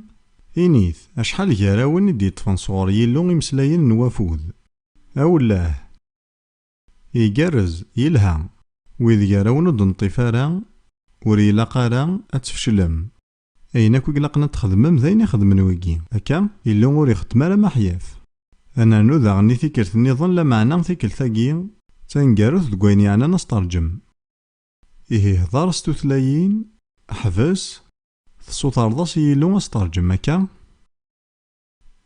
Init, acḥal gar-awen i d-yeṭṭfen sɣur Yillu imeslayen n wafud? Awelleh! Igerrez, yelha. Wid gar-awen ur d-neṭṭif ara, ur ilaq ara ad tfeclem. Ayen akk i ilaqen ad t-txedmem d ayen i xedmen wigi. Akka, Illu ur ixeddem ara maḥyaf. Ad nernu daɣen i tikkelt nniḍen lameɛna tikkelt-agi d taneggarut deg wayen yeɛnan asteṛǧem. Ihi hdeṛ s tutlayin, ḥbes, tessutreḍ-as i Yillu asteṛǧem, akka?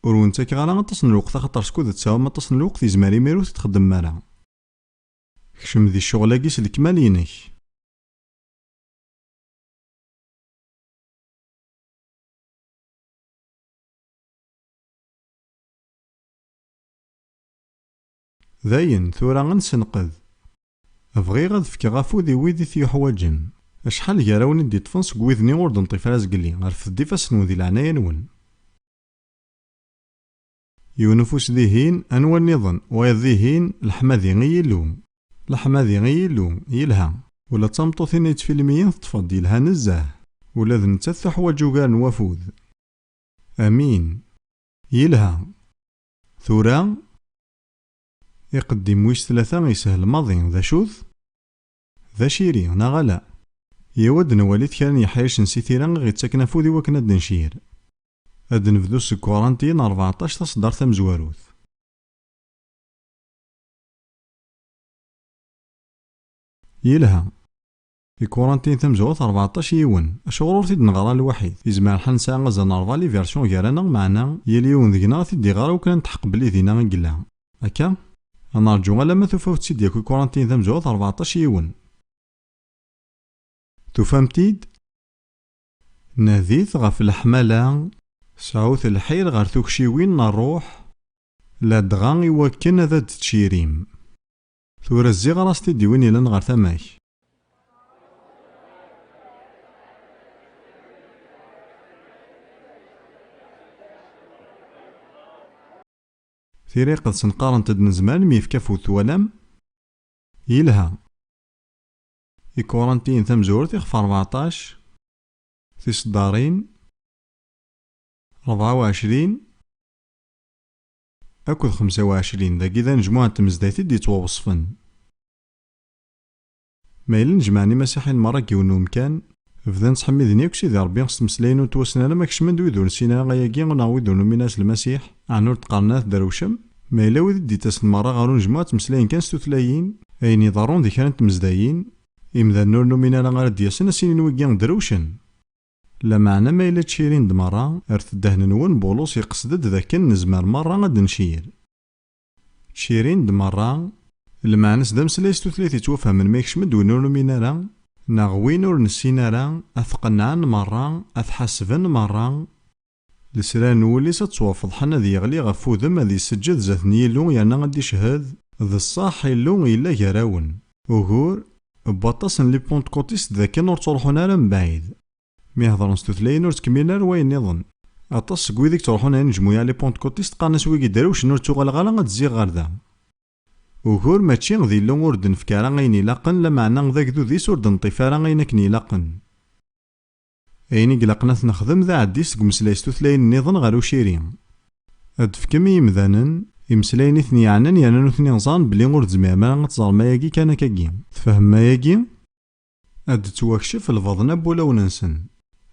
Ur wen-ttakeɣ ara aṭas n lweqt axaṭer skud tesɛum aṭas n lweqt yezmer imir ur t-txeddmem ara. Kcem di ccɣel-agi s lekmal-inek. Dayen, tura ad nessenqed. Bɣiɣ ad fkeɣ afud i wid i t-yuḥwaǧen. Acḥal gar awen i d-iṭṭfen seg wid-nni ur d-neṭṭif ara zgelli, rfed-d ifassen-nwen di leɛnaya-nwen. Yiwen ufus dihin, anwa nniḍen? Wayeḍ dihin, leḥmadi i Yillu! Leḥmadi i Yillu! Yelha! Ula d tameṭṭut-inna yettfilmiyen teṭṭfeḍ-d, yelha nezzeh! Ula d nettat tuḥwaǧ ugar n wafud. Amin! Yelha! Tura? Iqeddim wis tlata yeshel maḍi, d acu-t? D aciri, neɣ ala? Yyaw ad d-nwali-t kra n yeḥricen si tira i ɣ-ittaken afud i wakken ad d-ncir. Ad d-nebdu seg Kuṛanti n rbeɛṭac taṣeddart tamezwarut. Yelha. Di Kurantin tamezwarut rbeɛṭac yiwen, acuɣer ur t-id-neɣra lwaḥid? Yezmer lḥal nesɛa azal n rebɛa liversion gar-aneɣ, meɛna yal yiwen deg-neɣ a t-id-iɣer akk kra n tḥeqq belli dinna i yella. Akka? Ad nerǧu alamma tufaw-tt-id yakk i Kurantin tamezwarut rbeɛṭac yiwen. Tufam-t-id? Nadit ɣef leḥmala. Sɛut lḥir ɣer tukciwin n rruḥ, ladɣa iwakken ad d-tcirim. Tura zziɣer-as-t id i win yellan ɣer tama-k. Tira iqedsen qqarent-d nezmer ad nemyefk afud twalam? Yelha. Ikurantiyen tamezwarut ixef rbeɛṭac, tiseddarin, rebɛa u ɛecrin, Akked xemsa u ɛecrin, dagi d anejmuɛ n tmezdayt i d-yettwaweṣfen. Ma yella nejmaɛen imasiḥiyen merra deg yiwen n umkan, bdan ttḥemmiden yakk Sidi Ṛebbi s tmeslayin ur ttwassen ara ma kecmen-d wid ur nessin ara ayagi neɣ wid ur numin ara s Lmasiḥ, ɛni ur d-qqaren ara tedrewcem? Ma yella wid i d-yettasen merra ɣer unejmuɛ ttmeslayen kan s tutlayin, ayen iḍerrun di kra n tmezdayin, imdanen ur numin ara ara d-yasen ad s-inin wigi drewcen. Lameɛna ma yella ttcirin-d merra, rret ddehn-nwen, Bulus iqsed-d d akken nezmer merra ad d-ncir. Ttcirin-d merra. Lmeɛna-s d ameslay s tutlayt yettwafehmen ma yekcem-d win ur numin ara, neɣ win ur nessin ara, ad t-qennɛen merra, ad t-ḥasben merra, Lesrar n wul-is ad ttwafeḍḥen ad yeɣli ɣef wudem ad iseǧǧed zdat n Yillu yerna ad d-icehhed, D ṣṣeḥ, Illu yella gar-awen. Ugur, n waṭas n Lipentkuṭist d akken ur ttruḥun ara mebɛid. Mi hedren s tutlayin ur ttkemmilen ara wayen niḍen. Aṭas seg wid i yettruḥun a inejmu i Alipentkuṭist qqaren-as wigi drewcen ur ttuɣaleɣ ara ad d-zziɣ ɣer da. Ugur, mačči d Illu ur d-nefka ara ayen ilaqen, lameɛna d agdud-is ur d-neṭṭif ara ayen akken ilaqen. Ayen i ilaqen ad t-nexdem d aɛeddi seg umeslay s tutlayin nniḍen ɣer uciri. Ad d-tefkem i yimdanen imeslayen i ten-yeɛnan yerna nutni ẓan belli ur tezmirem ara ad teẓrem ayagi kan akagi. Tfehmem ayagi? Ad d-tettwakcef lbaḍna n wulawen-nsen.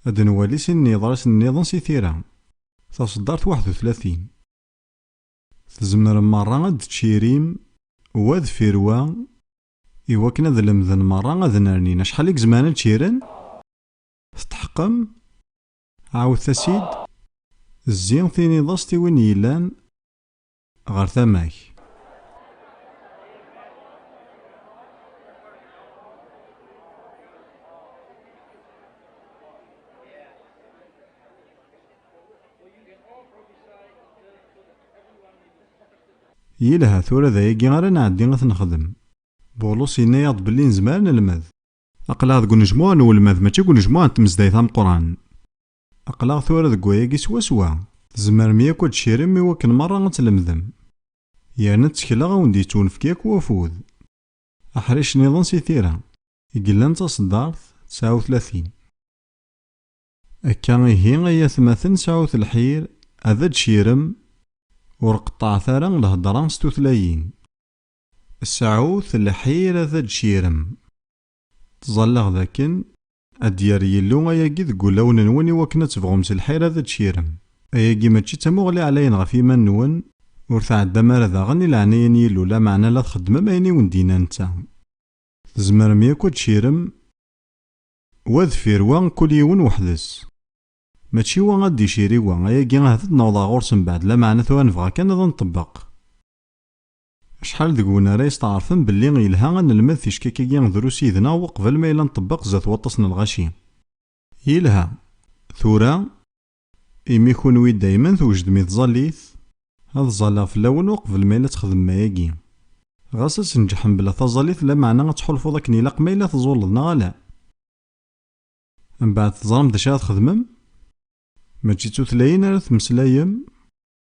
Ad d-nwali sin n yeḍrisen nniḍen si tira. Taṣeddart waḥed u tlatin. Tzemrem merra ad d-tcirim wa deffir wa I wakken ad lemden merra ad nernin. Acḥal i izemren ad čiren? Tetḥeqqem? Ɛawdet-as-id. Zzi, tiniḍ-as-t i win yellan ɣer tama-k. Yelha, tura d ayagi ara nɛeddi ad t-nexdem. Bulus yenna-yaɣ-d belli nezmer ad nelmed. Aql-aɣ deg unejmuɛ n welmad, mačči deg unejmuɛ n tmezdayt ameqqran. Aql-aɣ tura deg wayagi swaswa. Tzemrem yakk ad d-tcirem i wakken merra ad tlemdem. Yerna ttekleɣ ad wen-d-yettwenefk yakk wafud. Aḥric niḍen si tira. I yellan d taṣeddart, tesɛa utlatin. Akka ihi ay atmaten sɛut lḥir ad d-cirem ur qeṭṭɛet ara lhedra s tutlayin. Sɛut lḥir ad d-cirem. Ttẓallaɣ d akken ad d-yerr Yillu ayagi deg wulawen-nwen i wakken ad tebɣum s lḥir ad d-cirem. Ayagi mačči d tamuɣli ɛlayen ɣef yiman-nwen, ur tɛeddam ara daɣen i leɛnaya n Yillu lameɛna la txeddmem ayen i wen-d-yenna netta. Tzemrem yakk ad d-cirem. Wa deffir wa kul yiwen weḥd-s. Mačči wa ad d-icir i wa, ayagi ahat ad d-nawḍeɣ ɣur-s mbeɛd, lameɛna tura nebɣa kan ad nṭebbeq. Acḥal deg-wen ara yesteɛṛfen belli yelha ad nelmed ticka-agi drus yid-neɣ weqbel ma yella nṭebbeq zdat waṭas n lɣaci? Yelha. Tura. Imi kunwi dayman twejdem i tẓallit, ad ẓalleɣ fell-awen uqbel ma yella ad texdem ayagi. Ɣas ad tnejjeḥ mebla taẓallit lameɛna ad tḥulfuḍ akken ilaq ma yella teẓẓulleḍ neɣ ala. Mbeɛd teẓram d acu ara txedmem? Mačči d tutlayin ara temmeslayem?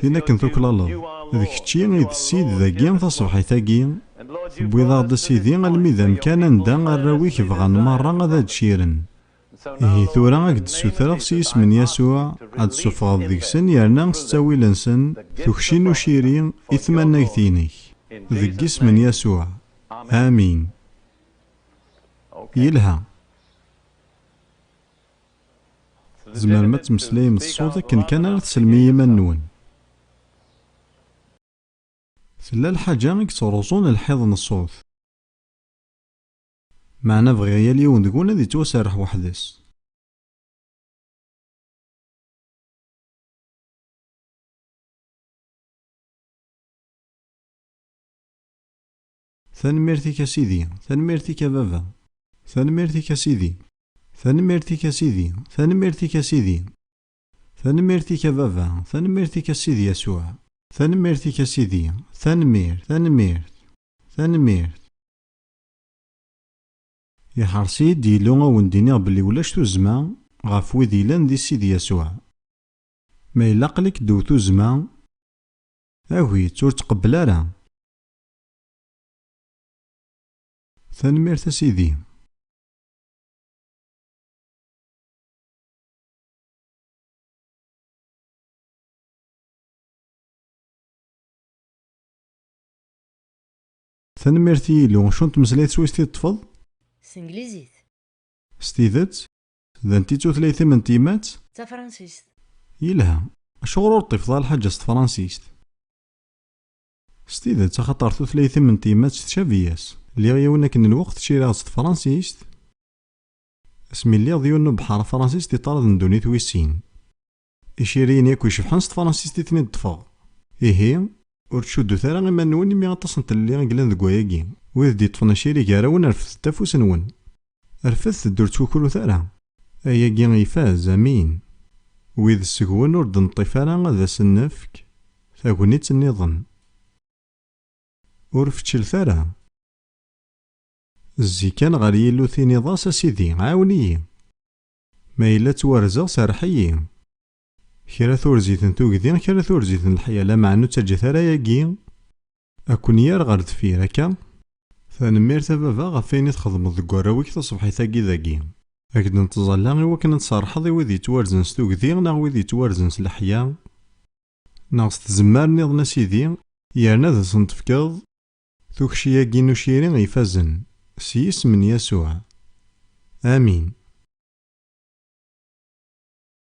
Tin akken tuklaleḍ, d kečči i d Ssid dagi taṣebḥit-agi, tewwiḍ-aɣ-d a Sidi almi d amkan anda arraw-ik bɣan merra ad ad-čiren. Ihi tura a k-d-ssutreɣ s yisem n Yasuɛ, ad d-ssufɣeḍ deg-sen yerna s ttawil-nsen, tukci n uciri i tmannagt-inek. Deg yisem n Yasuɛ, amin. Yelha. Tzemrem ad temmeslayem d ṣṣut akken kan ara teslem i yiman-nwen. Tella lḥaǧa i yettruẓun lḥiḍ n ṣṣut. Meɛna bɣiɣ yal yiwen deg-wen ad yettwaserreḥ weḥd-s. Tanemmirt-ik a Sidi. Tanemmirt-ik a baba. Tanemmirt-ik a Sidi. Tanemmirt-ik a Sidi. Tanemmirt-ik a Sidi. Tanemmirt-ik a baba. Tanemmirt-ik a Sidi Yasuɛ. Tanemmirt-ik a Sidi. Tanemmirt, tanemmirt, tanemmirt. Iḥers-iyi-d Yillu a wen-d-iniɣ belli ulac tuzzma ɣef wid yellan di Sidi Yasuɛ. Ma yella aql-ik ddew tuzzma, agi-tt, ur tqebbel ara. Tanemmirt a Sidi. Tanemmirt i Yilu. Acu n tmeslayt s wis t-id-ṭṭfeḍ? S tenglizit. S tidet? D anti tutlayt-im n tyemmat? D tafransist. Yelha. Acuɣer ur ṭṭifeḍ ara lḥaǧa s tefransist? S tidet, axaṭer tutlayt-im n tyemmat tcabi-yas. Liɣ yiwen akken lweqt ciriɣ s tefransist, asmi lliɣ d yiwen n ubeḥḥar afransist i ṭṭrad n ddunit wis sin. Iciriyen yakk icebḥen s tefransist i ten-id-ṭṭfeɣ. Ihi, ur ttcuddut ara iman-nwen imi aṭas n tlelli i yellan deg wayagi. Wid d-yeṭṭfen aciri gar-awen refdet afus-nwen. Rfed-d ur ttwukrut ara. Ayagi ifaz, amin. Wid seg-wen ur d-neṭṭif ara ad asen-nefk tagnit nniḍen. Ur feččlet ara. Zzi kan ɣer Yillu tiniḍ-as, A Sidi, ɛawen-iyi. Ma yella ttwarzeɣ, serreḥ-iyi. Kra turzi ten tugdi, kra turzi ten leḥya, lameɛna ur ttaǧǧat ara ayagi a ken-yerr ɣer deffir, akka? Tanemmirt a baba ɣef wayen i txedmeḍ deg warraw-ik taṣebḥit-agi dagi. A k-d-nettẓalla i wakken ad tserrḥeḍ i wid yettwarzen s tugdi neɣ wid yettwarzen s leḥya, neɣ s tzemmar nniḍen a Sidi, yerna ad asen-tefkeḍ tukci-agi n uciri ifazen, s yisem n Yasuɛ. Amin.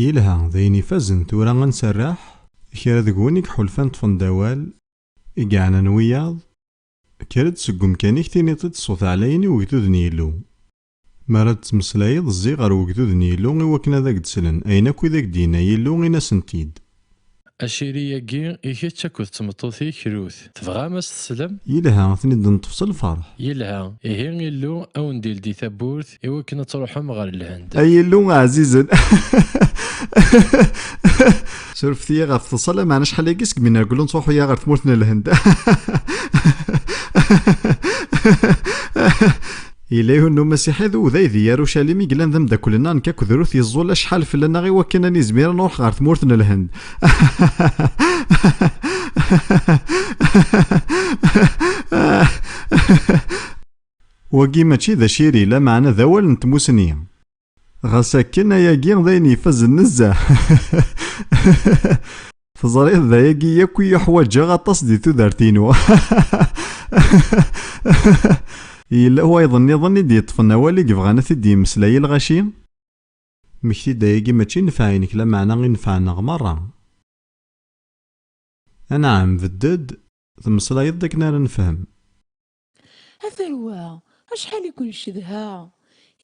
Yelha, d ayen ifazen, tura ad nserreḥ i kra deg-wen i iḥulfan ṭṭfen-d awal, i yeɛnan wiyaḍ, kker-d seg umkan-ik tiniḍ-t-id ṣṣut ɛlayen i ugdud n Yillu. Mi ara d-ttmeslayeḍ zzi ɣer ugdud n Yillu i wakken ad ak-d-slen ayen akk i d ak-d-yenna Yillu, in-asen-t-id. Aciri-agi i kečč akked d tmeṭṭut-ik Rut. Tebɣam a s-teslem? Yelha, ad ten-id-neṭṭef s lferḥ. Yelha, ihi Illu a wen-d-ildi tawwurt i wakken ad truḥem ɣer Lhend. Ay Illu ɛzizen! Surfet-iyi ɣef teḍsa, lameɛna acḥal-agi seg mi nergel ur nettruḥu ara ɣer tmurt n Lhend. Yella yiwen n umasiḥi d uday di Yarucalim i yellan d ameddakel-nneɣ nekk akked Ruth yeẓẓul acḥal fell-aneɣ i wakken ad nizmir ad nruḥ ɣer tmurt n Lhend. Wagi mačči d aciri, lameɛna d awal n tmussni. Ɣas akken ayagi d ayen ifazen nezzeh. Teẓriḍ d ayagi yakk i yuḥwaǧeɣ aṭas di tudert-inu. Yella wayeḍ nniḍen i d-yeṭṭfen awal i yebɣan ad t-id-yemmeslay i lɣaci? Mmekti-d ayagi mačči nnfeɛ-inek lameɛna i nnfeɛ-nneɣ merra. Anɛam, bedd-d, temmeslayeḍ-d akken ara nefhem. A tarwa, acḥal i ken-cedhaɣ!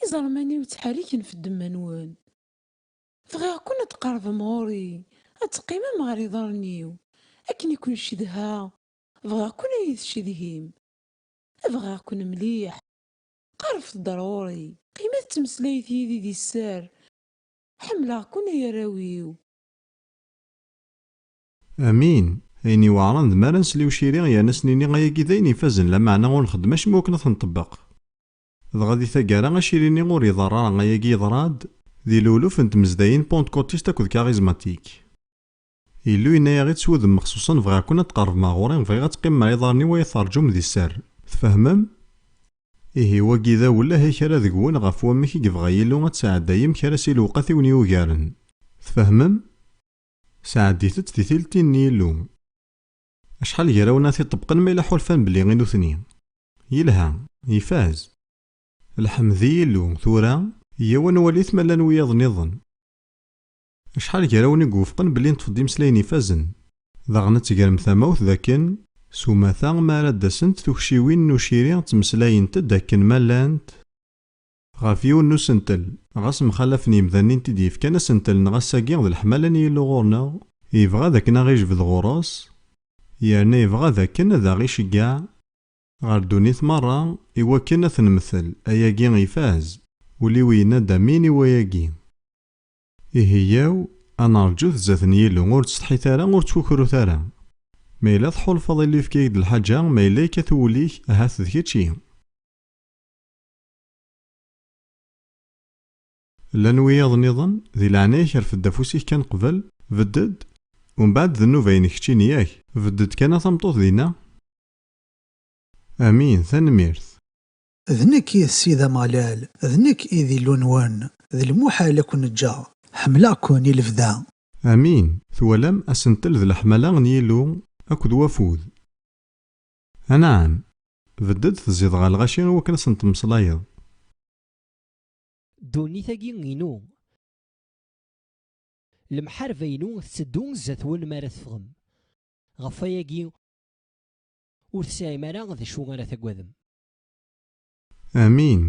Iẓerman-iw ttḥerriken f ddemma-nwen. Bɣiɣ-ken ad d-tqerbem ɣur-i, ad d-teqqimem ɣer iḍarren-iw. Akken i ken-cedhaɣ, bɣiɣ-ken ad iyi-tcedhim. Bɣiɣ-ken mliḥ. Qerbet-d ar ɣur-i. Qqimet ttmeslayet yid-i di sser. Ḥemmleɣ-ken ay arraw-iw. Amin! Ayen iweɛren d mi ara nsel i uciri yerna s-nini ayagi d ayen ifazen lameɛna ur nxeddem acemma wakken ad t-nṭebbeq. Dɣa di taggara aciri-nni ur iḍerr ara, ayagi yeḍra-d di luluf n tmezdayin pantkotist akked karizmatik. Illu yenna-yaɣ-id s wudem mexsuṣen, Bɣiɣ-ken ad tqerbem ɣer ɣur-i, bɣiɣ ad teqqimem ɣer iḍarren-iw ay teṛǧum di sser. Tfehmem? Ihi wagi d awel ahay kra deg-wen ɣef wamek i yebɣa Yillu ad tesɛeddayem kra si lewqat i wen-yugaren. Tfehmem? Sɛeddit-tt di tiltin n Yillu. Acḥal n yirawen ara t-iṭṭebqen ma yella ḥulfan belli i nutni. Yelha, ifaz. Lḥemd i Yillu, tura, yyaw ad nwali-t ma llan wiyaḍ nniḍen. Acḥal n yirawen i iwufqen belli neṭṭef-d imeslayen ifazen, daɣen ad tegrem tamawt dakken s umata ma ara d-asent tukciwin n uciri ttmeslayent-d akken ma llant, Ɣef yiwen n usentel, ɣas mxalafen yemdanen i n-t-id-yefkan asentel neɣ ass-agi d leḥmala n Yillu ɣur-neɣ, yebɣa d akken a ɣ-ijbed ɣur-s, yerna yebɣa d akken ad aɣ-iceggeɛ ɣer ddunit merra i wakken a t-nemtel, ayagi ifaz, ul-iw yenna-d amin i wayagi. Ihi yaw a neṛǧut zdat n Yillu, ur ttsetḥit ara, ur ttkukrut ara. Ma yella tḥulfaḍ Illu yefka-ak-d lḥaǧa, ma yella yekkat wul-ik, ahat d kečč i. Llan wiyaḍ niḍen, di leɛnaya-k rfed-d afus-ik kan qbel, bedd-d, u mbeɛd d nnuba-inek keččini yak? Bedd-d kan a tameṭṭut dinna? Amin, tanemmirt. D nekk i d Ssid Ameɣlal, d nekk i d Illu-nwen, d lmuḥal a ken-ǧǧeɣ. Ḥemmleɣ-ken i lebda. Amin, twalam, asentel d leḥmala n Yillu akked wafud. Anɛam, bedd-d tezziḍ ɣer lɣaci i wakken ad sen-temmeslayeḍ. Ddunit-agi inu. Lemḥarba-inu tetteddu zdat-wen mi ara teffɣem. Ɣef wayagi, ur tesɛim ara d acu ara tagadem. Amin.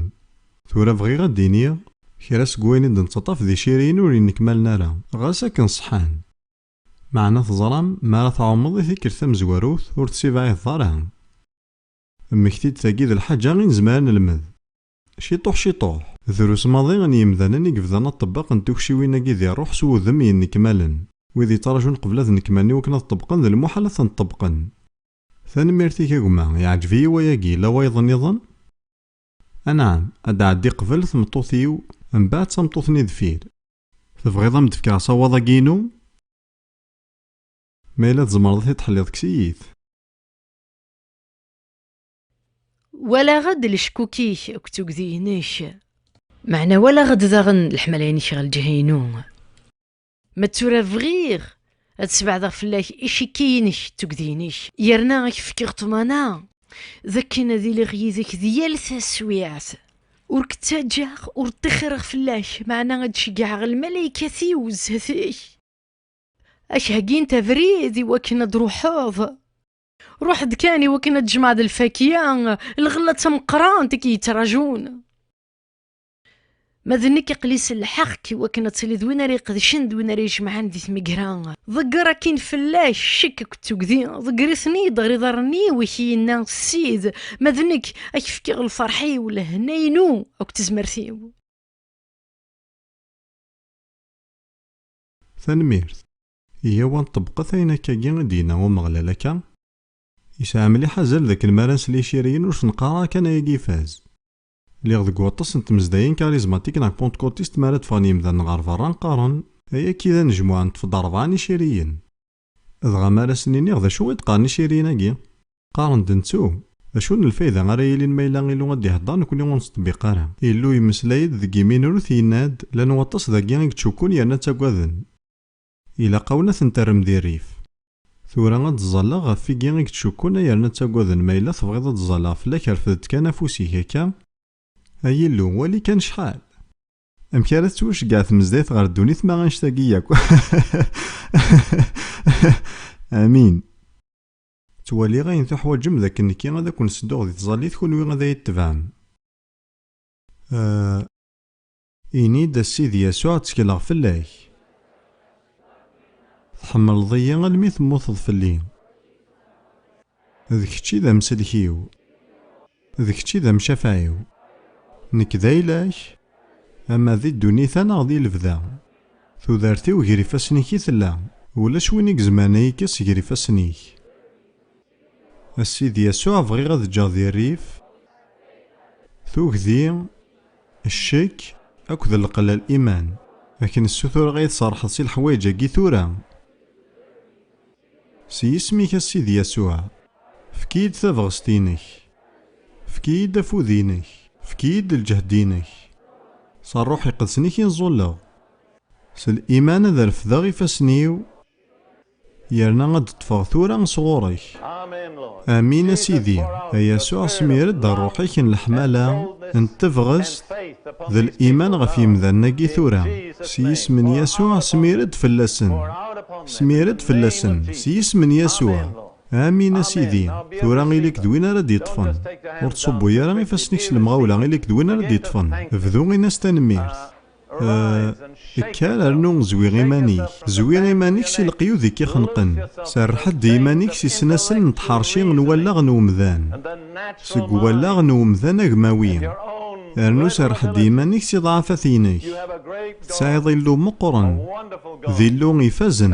Tura bɣiɣ ad d-iniɣ kra seg wayen i d-nettaṭṭaf d iciriyen ur yennekmalen ara, ɣas akken ṣeḥḥan. Meɛna teẓram, mi ara tɛumeḍ i tikkelt tamezwarut, ur tessibaɛideḍ ara. Mmekti-d tagi d lḥaǧa i nezmer ad nelmed. Ciṭuḥ ciṭuḥ. Drus maḍi n yimdanen i yebdan aṭebbaq n tukciwin-agi di rruḥ s wudem yennekmalen. Wid yettraǧun qbel ad nekmalen i wakken ad ṭebbqen d lmuḥal ad tent-ṭebbqen. Tanemmirt-ik a gma, yeɛǧeb-iyi wayagi, yella wayeḍ nniḍen? Anɛam, ad d-tɛeddi qbel tmeṭṭut-iw, mbaɛd tameṭṭut-nni deffir. Tebɣiḍ ad m-d-fkeɣ asawaḍ-agi-inu? Ma yella tzemreḍ ad t-id-tḥelliḍ, kkes-iyi-t. Walaɣ-d leckuk-ik akked tugdi-inek. Meɛna walaɣ-d daɣen leḥmala-inek ɣer lǧiha-inu. Ma d tura bɣiɣ Ad sbeɛdeɣ fell-ak icikki-inek d tugdi-inek, yerna ad k-fkeɣ ṭṭmana d akken ad iliɣ yid-k di yal taswiɛt. Ur k-ttaǧǧaɣ, ur ṭṭixireɣ fell-ak, meɛna ad ceggɛeɣ lmalaykat-iw zdat-k, ad k-heggint abrid i wakken ad d-truḥeḍ. Ruḥ-d kan i wakken ad tjemɛeḍ lfakya, lɣella d tameqqrant i k-yettrajun. ما d nekk aqli s lḥeqq iwakken ad tiliḍ win ara iqedcen d win ara yejemɛen di tmegra ḍegger akin fell-ak ccek akked tugdi ḍegger-iten-id ɣer iḍarren-iw i k-yenna ssid ma d nekk ad k-fkeɣ lferḥ-iw lehna-inu akked tezmert-iw Tanemmirt. Yyaw ad ṭebbqet ayen akkagi i d-yenna Umeɣlal akka, Yesɛa mliḥ azal dakken mi ara nsel iciriyen ur s-neqqar ara kan ayagi ifaz. Lliɣ deg waṭas n tmezdayin karizmatik neɣ pontkotist mi ara d-ffɣen yimdanen ɣer berra qqaren, Ay akka i d anejmuɛ, neṭṭef-d rebɛa n iciriyen. Dɣa mi ara sen-iniɣ d acu i d-qqaren iciriyen-agi? Qqaren-d nettu! D acu n lfayda ara yilin ma yella Illu ad d-ihedder nekkni ur nettṭebbiq ara? Illu yemmeslay-d deg yiminrut yenna-d, Llan waṭas dagi i yettcukkun yerna ttagaden. Ilaq-awen ad ten-terrem di rrif. Tura ad d-ẓẓalleɣ ɣef wigi i yettcukkun ay yerna ttagaden ma yella tebɣiḍ ad d-ẓẓalleɣ fell-ak rfed-d kan afus-ik akka. Ay Illu, wali kan cḥal! Amek ara tettwaceggeɛ tmezdayt ɣer ddunit ma annect-agi yakk? Amin. Ttwaliɣ ayen tuḥwaǧem d akken nekki ad akwen-ssedduɣ di tẓallit kunwi ad ay-itebɛem. Ahh. Ini-d, A Sidi Yasuɛ, ttekleɣ fell-ak. Tḥemmleḍ-iyi almi temmuteḍ fell-i. D kečč i d amsellek-iw. D kečč i d amcafeɛ-iw. Nekk d ayla-k, ama di ddunit-a neɣ di lebda. Tudert-iw ger ifassen-ik i tella. Ulac win i izemren a yi-kkes ger ifassen-ik. A Sidi Yasuɛ bɣiɣ ad ǧǧeɣ di rrif tugdi, ccek akked leqlal iman. A k-nessutureɣ ad yi-tserrḥeḍ si leḥwayeǧ-agi tura. S yisem-ik a Sidi Yasuɛ, efk-iyi-d tabɣest-inek. Efk-iyi-d afud-inek. Efk-iyi-d lǧehd-inek. S rruḥ iqedsen i k-in-ẓulleɣ. S liman ad refdeɣ ifassen-iw. Yerna ad d-ṭṭfeɣ tura sɣur-k. Amin a Sidi. A Yasuɛ, smir-d rruḥ-ik n leḥmala, n tebɣest, d liman ɣef yemdanen-agi tura. S yisem n Yasuɛ, smir-d fell-asen. Smir-d fell-asen, s yisem n Yasuɛ. Amin a Sidi. Tura ili-k d win ara d-yeṭṭfen. Ur ttṣubbu ara ifassen-ik s lemɣawla, ili-k d win ara d-yeṭṭfen. Bdu ini-as tanemmirt. Kker rnu zwi iman-ik. Zwi iman-ik si leqyud i k-ixenqen. Serreḥ-d i iman-ik si snasel n tḥerci n wallaɣ n umdan, seg wallaɣ n umdan agmawi. Rnu serreḥ-d i iman-ik si ḍɛafat-inek. Tesɛiḍ Illu meqqren. D Illu ifazen.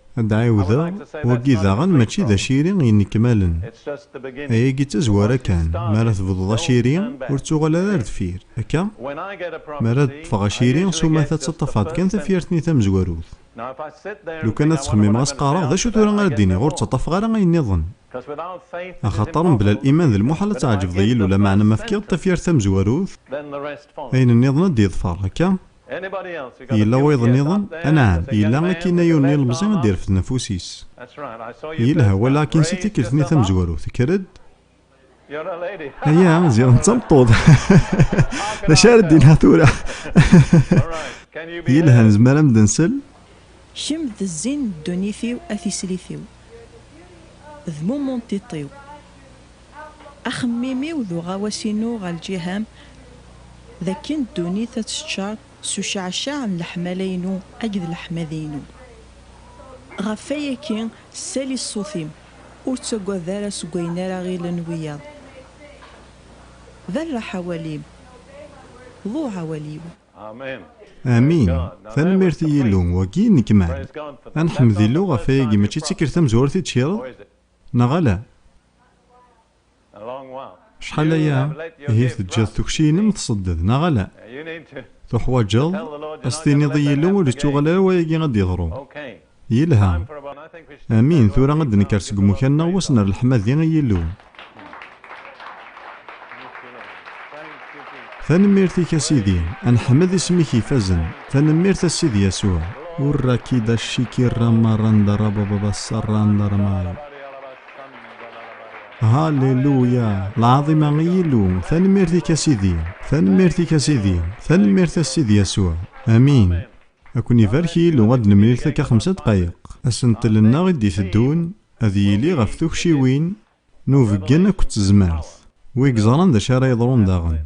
Ad d-ɛiwdeɣ, wagi daɣen mačči d aciri yennekmalen. Ayagi d tazwara kan, mi ara tebduḍ aciri, ur ttuɣal ara ar deffir, akka? Mi ara d-ṭṭfeɣ aciri, s umata ttaṭṭafeɣ-d kan tafyirt-nni tamezwarut. Lukan ad ttxemmimeɣ ad s-qqareɣ, d acu tura ara d-iniɣ, ur ttaṭṭafeɣ ara ayen nniḍen? Axaṭer mebla liman d lmuḥal ad tɛeǧbeḍ i Yillu, lameɛna ma fkiɣ-d tafyirt tamezwarut, ayen nniḍen ad d-yeḍfer, akka? Yella wayeḍ nniḍen? Anɛam, yella akkin ay un ilemẓi ad d-irfed nfus-is. Yelha, walaɣ akkin si tikkelt-nni tamezwarut, kker-d. Aya, ziɣ d tameṭṭut. D acu ara d-inha tura? Yelha, nezmer ad am-d-nsel? Kemm d zzin n ddunit-iw a tislit-iw, d mummu n tiṭ-iw. Axemmim-iw d uɣawas-inu ɣer lǧiha-m d akken ddunit ad teččar s ucceɛceɛ n leḥmala-inu akked leḥmadi-inu. Ɣef wayagi, ssali ṣṣut-im, ur ttagad ara seg wayen ara ɣilen wiyaḍ. Berreḥ awal-im, ḍuɛ awal-iw. Amin! Tanemmirt i Yillu, wagi i nekmal! Ad neḥmed Illu ɣef wayagi, mačči d tikkelt tamezwarut i d-tkireḍ? Neɣ ala? Acḥal aya ihi teǧǧiḍ tukci-inem tṣedded, neɣ ala? Tuḥwaǧeḍ a s-tiniḍ i Yillu ur ittuɣal ara wayagi ad d-yeḍru. Yelha. Amin, tura ad d-nekker seg umukan-nneɣ wis n rrelḥmadi i Yillu. Tanemmirt i Kassidi, anḥmed isem-ik ifazen, tanemmirt a Sidi Yasuɛ. Urra kida shiki rama randa raba baba saranda ramay. Halleluya, lɛaḍima i Yillu, tanemmirt i Kassidi, tanemmirt i Kassidi, tanemmirt a Sidi Yasuɛ. Amin. A ken-ibarek Yillu, ad nemlil takka xemsa ddqayeq. Asentel-nneɣ i d-iteddun ad yili ɣef tukciwin. Nubeggen akked tezmert. Wi yeẓran d acu ara yeḍrun daɣen.